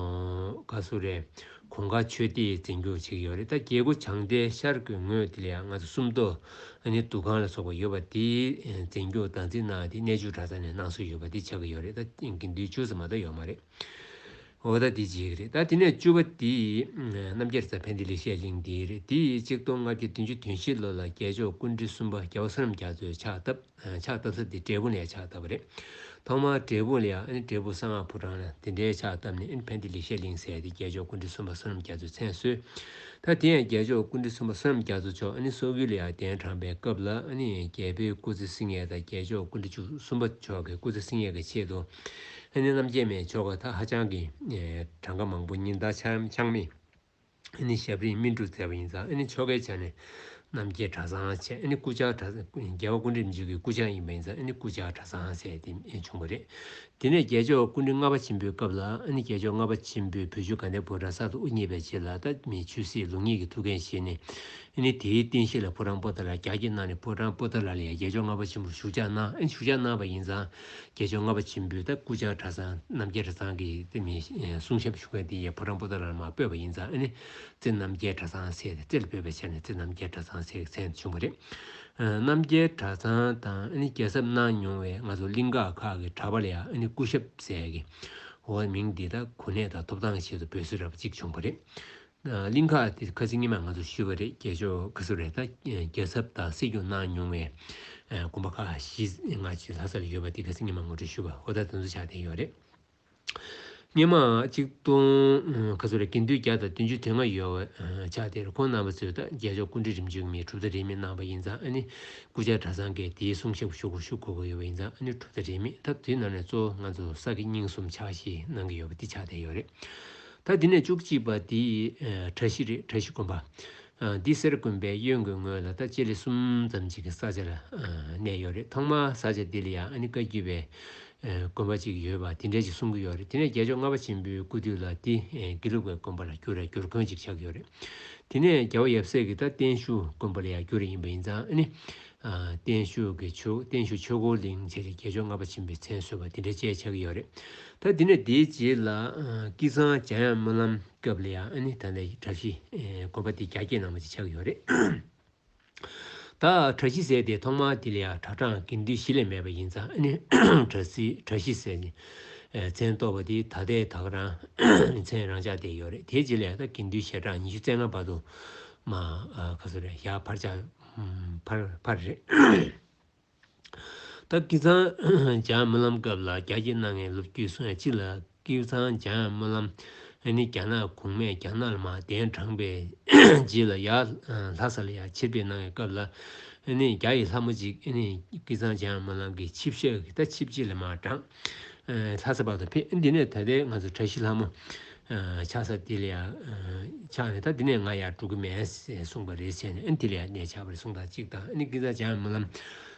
བཀའ་ཟུར་རེད། གོང་དཀར་ཆོས་སྡེ་ཡིས་འཛིན་སྐྱོང་བྱེད་ཀྱི་ཡོད་རེད་ད་རྒྱལ་སྒོ་བྱང་སྡེ་ཤར་སྒོའི་ངོས་དེ་ལ་ཡང་ང་ཚོ་སུམ་མདོ་ཨ་ནེ་འདུ་ཁང་ལ་སོགས་པ་ཡོད་པ་དེ་འཛིན་སྐྱོང་བདག་འཛིན་གནང་སྟེ་གནས་ཆུང་གྲྭ་ཚང་ནས་གནང་སྲོལ་ཡོད་པ་དེ་ཆགས་ཀྱི་ཡོད་རེད་ད་དགེ་འདུན་ཅུང་ཟད་མ་གཏོགས་ཡོད་མ་རེད་འོ་ད་འདི་བརྗེད་ཀྱི་རེད་ད་དེ་ནས་བཅུ་བ་དེ་རྣམ་རྒྱལ་རྩ་འཕན་ཏི་ལེ་ཤེས་གླིང་དེ་རེད་དེ་གཅིག་སྟོང་ལྔ་བརྒྱ་བདུན་ཅུ་དོན་བཞི་ལོ་ལ་རྒྱལ་མཆོག་ཀུན་འདྲི་གསུམ་པ་རྒྱལ་བ་བསོད་ནམས་རྒྱ་མཚོས་ཕྱག་བཏབ། ཕྱག་བཏབ་ས་དེ་འབྲས་བུ་ལས་ཕྱག་བཏབ་པ་རེད། ཐོག་མར་འབྲས་བུ་ལས་ཨེ་འབྲས་བུ་གསང་སྔགས་ཕོ་བྲང་ལ་དེ་འདྲའི་ཕྱག་བཏབ་ནས་ཨེ་ཕན་བདེ་ལེགས་བཤད་གླིང་ཟེར་ཏེ་རྒྱལ་མཆོག་ཀུན་འདྲི་གསུམ་པ་བསོད་ནམས་རྒྱ་མཚོས་མཚན་གསོལ། ད་དེ་ཡང་རྒྱལ་མཆོག་ཀུན་འདྲི་གསུམ་པ་བསོད་ནམས་རྒྱ་མཚོ་མཆོག་ཨེ་སྲོག་ཀུན་ལ་ཡང་གདན་དྲངས་པའི་སྐབས་ལ་ཨེ་རྒྱལ་པོའི་སྐུ་ཚེ་སྲིང་ངེ་དང་རྒྱལ་མཆོག་ཀུན་འདྲི་བཅུ་གསུམ་པ་མཆོག་གི་སྐུ་ཚེ་སྲིང་ངེ་གི་ཆེད་དུ་ཨེ་རྣམ་རྒྱལ་མའི་ཆོ་ག་དག་ཧ་ཅང་གི་གྲངས་ཀ་མང་པོ་ཉིན་ལྟར་འཆང་མི་ཨེ་ནི་ཞབས་རིང་སྨིན་དྲུག་མཛད་པ་ཡིན་ཙང་ཨེ་ནི་ཆོ་གའི་ཆ་ནས་རྣམ་རྒྱལ་གྲྭ་ཚང་ཆེ་ཨེ་ནི་སྐུ་བཅར་གྲྭ་རྒྱལ་བ་ཀུན་རིག་མཇུག་གི་སྐུ་བཅར་ཡིན་པ་ཡིན་ཙང་ཨེ་ནི་སྐུ་བཅར་གྲྭ་ཚང་ཆེ་དེ་བྱུང་བ་རེད། དེ་ནས་རྒྱལ་མཆོག་ཀུན་རིག་ལྔ་པ་ཆེན་པོའི་སྐབས་ལ་ཨེ་ནི་རྒྱལ་མཆོག་ལྔ་པ་ཆེན་པོས་བོད་ཆུ་དགའ་ལྡན་ཕོ་བྲང་གསར་དུ་དབུ་བརྙེས་པའི་རྗེས་ལ་ལྟ་མི་ཆོས་སྲིད་ལུགས་གཉིས་ཀྱི་ཐུགས་འགན་བཞེས་ནས་ཨེ་ནི་དེའི་རྟེན་གཞི་ལ་ཕོ་བྲང་པོ་ཏཱ་ལ་རྒྱ་ཁྱི་གནང་ནས་ཕོ་བྲང་པོ་ཏཱ་ལ་ལ་ཡང་རྒྱལ་མཆོག་ལྔ་པ་ཆེན་པོར་བཞུགས་བཅར་གནང་ཨེ་ནི་བཞུགས་བཅར་གནང་བ་ཡིན་ཙང། རྒྱལ་མཆོག་ལྔ་པ་ཆེན་པོའི་ད་སྐུ་ལྕགས་གྲ་ཚང་རྣམ་རྒྱལ་གྲ་ཚང་གི་རྩེ་མི་གསུང་ཞབས་ཞུ་མཁན་དེ་ཡི་ཕོ་བྲང་པོ་ཏཱ་ལར་མ་སྤོས་པ་ཡིན་ཙང་ཨ་ནི་རྩེ་རྣམ་རྒྱལ་གྲ་ཚང་ཟེར་ཏེ་རྩེ་ལ་སྤོས་པའི་ཆ་ནས་རྩེ་རྣམ་རྒྱལ་གྲ་ཚང་ཟེར་མཁན་བྱུང་བ་རེད། རྣམ་རྒྱལ་གྲ་ཚང་དང་ཨ་ནི་རྒྱལ་ཚབ་གནང་མྱོང་བའི་ང་ཚོ་གླིང་ག་ཁག་གི་གྲ་པ་ལ་ཡང་ཨ་ནི་སྐུ་ཞབས་ཟེར་གི་འོ་མིང་འདི་ད་གོ་གནས་དང་ཐོབ་ཐང་ཆེད་དུ་འབོད་སྲོལ་རབ་གཅིག་བྱུང་བ་རེད། གླིང་ཁ་དེ་ཁ་ཟིག་ཉི་མ་ང་ཚོ་ཤི་བ་རེད་རྒྱལ་ཕྱོགས་ཁ་ཟུ་རེད་ད་རྒྱལ་ཚབ་དང་སྲིད་སྐྱོང་གནང་མྱོང་བའི་དགོན་པ་ཁག་ཤི་ང་ཅིག་ལྷ་ས་ལ་ཡོད་པ་དེ་ཁ་ཟིག་ཉི་མ་ངོ་སྤྲོད་ཞུ་བ་ཧོ་ད་དེ་ཚོ་ཆགས་བསྡད་ཡོད་རེད་སྙེ་མ་གཅིག་སྟོང་ཁ་ཟུ་རེད་དགེ་འདུན་བརྒྱ་དང་བདུན་ཅུ་དེ་སྔ་ཡོད་བ་ཆགས་བསྡད་རེད་ཁོང་རྣམ་པ་ཚོས་ད་རྒྱལ་ཕྱོགས་སྐུ་འདྲེ་རིམ་བྱོན་མིའི་གྲུབ་མཐའ་རེད་མེད་གནང་བ་ཡིན་ཙང་ཨ་ནི་སྐུ་ཕྱྭ་གྲྭ་ཚང་གི་དེའི་གསུང་ཞབས་ཞུ་སྒོར་ཞུ་དགོས་དགོས་ཡོད་བ་ཡིན་ཙང་ཨ་ནི་གྲུབ་མཐའ་རེད་མེད་ད་དུས་ནང་ནས་གཙོ་བོ་ང་ཚོ་ས་དགེ་རྙིང་གསུམ་ཆགས་ཤིག་གནང་གི་ཡོད་པ་དེ་ཆགས་བསྡད་ཡོད་རེད། ད་འདི་ནས་བཅུ་གཅིག་པ་འདི་གྲྭ་བཞི་རེད་གྲྭ་བཞི་དགོན་པ། འདི་གསེར་དགོན་པའི་གཡོན་གྱི་ངོས་ལ་ད་སྤྱི་ལེ་གསུམ་ཙམ་ཅིག་གི་ས་ཆ་ལ་གནས་ཡོད་རེད་ཐོག་མར་ས་ཆ་འདི་ལ་ཡང་ཨ་ནི་བཀའ་བརྒྱུད་པའི་དགོན་པ་ཅིག་ཡོད་པ་དེ་འདྲས་ཅིག་གསུང་གི་ཡོད་རེད་དེ་ནས་རྒྱལ་མཆོག་ལྔ་པ་ཆེན་པོའི་སྐུ་དུས་ལ་འདི་དགེ་ལུགས་པའི་དགོན་པ་ལ་བསྒྱུར་རེད་བསྒྱུར་དགོན་ཅིག་ཆགས་ཀྱི་ཡོད་རེད་དེ་ནས་རྒྱལ་བ་ཡབ་སྲས་ཀྱི་ད་བརྟན་བཞུགས་དགོན་པ་ལ་ཡང་བསྒྱུར་རེ་ཡིན་པ་ཡིན་ཙང་ཨ་ནི། བརྟན་བཞུགས་ཆོས་འཁོར་གླིང་བཅས་ཀྱི་དགེ་སྦྱོར་ལྔ་པ་བྱིན་པའི་མཚན་གསོལ་བ་འདི་འདྲ་བཅས་ཆགས་ཀྱི་ཡོད་རེད། ད་འདི་ནས་དེའི་རྗེས་ལ་ཀི་ཚང་བྱ་ཡང་སྨོན་ལམ་སྐབས་ལ་ཡང་ཨ་ནི་ད་ལས་གྲྭ་བཞི་དགོན་པ་འདི་རྒྱ་སྐྱེད་གནང་བ་བཅས་ཆགས་ཀྱི་ཡོད་རེད། ད་གྲྭ་བཞི་ཟེར་དེ་ཐོག་མར་འདི་ལ་ཡང་གྲྭ་གྲངས་དགེ་འདུན་བཞི་ལས་མེད་པ་ཡིན་ཙང་ཨ་ནི་གྲྭ་བཞི་ཟེར་ནས་མཚན་བཏོགས་པ་འདི་ད་ལྟའི་དག་རང་མཚན་རང་ཆགས་བསྡད་ཡོད་རེད་དེའི་རྗེས་ལ་ཡང་དགེ་འདུན་ཞལ་གྲངས་ཉི་ཤུ་རྩེ་ལྔ་བར་དུ་མ་བཞག་ཕར་ཆགས། བར་བར་རེད། ད་ཀི་ཚང་འཇང་སྨོན་ལམ་སྐབས་ལ་རྒྱ་སྐྱེད་གནང་མཁན་ལོ་རྒྱུས་སྲུང་ཡ་གཅིག་ལ་ཀི་ཚང་འཇང་སྨོན་ལམ་ནི་རྒྱ་ནག་གུང་མས་རྒྱ་ནག་ལ་མ་གདན་དྲངས་པའི་རྗེས་ལ་ཡར་ལྷ་ས་ལ་ཡར་ཕྱིར་ཕེབས་གནང་བའི་སྐབས་ལ་རྒྱ་ཡི་ལྷ་མོ་གཅིག་ཀི་ཚང་འཇང་སྨོན་ལམ་གྱི་ཆིབས་ཞག་གི་ད་ཆིབས་རྗེས་ལ་མ་དྲངས། ལྷ་ས་བར་དུ་ཕེབས་འདི་ནས་ད་ལྟའི་ང་ཚོ་བཀྲ་ཤིས་ལྷ་མོ། ཆགས་ས་དེ་ལ་ཡང་ཆགས་ནས་ད་འདི་ནས་ང་ཡར་འགྲོ་གི་མེད་ཟེར་གསུངས་པ་རེད་བྱས་ནས་དེ་ལ་ཡང་གནས་ཆགས་པ་རེད་གསུངས་དང་གཅིག་དང་ཨ་ནི་སྐྱིད་ཟ་བྱའམ་སྨོན་ལམ་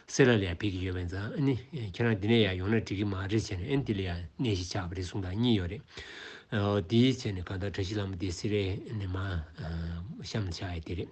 སེར་ལ་ལ་ཡང་ཕེབས་ཀྱི་ཡོད་པས་ཛང་ཨ་ནི་ཁྱེད་རང་འདི་ནས་ཡར་ཡོང་ན་འགྲིག་གི་མ་རེད་བྱས་ནས་ཨ་ནི་དེ་ལ་ཡང་གནས་ཤིག་ཆགས་པ་རེད་གསུངས་དང་གཉིས་ཡོད་རེད་འོ་དེའི་བྱས་ནས་གང་ལྟར་བཀྲ་ཤིས་ལྷ་མོ་དེ་སི་རེ་ནས་མ་གཤམ་ཆགས་ཡས་དེ་རེད།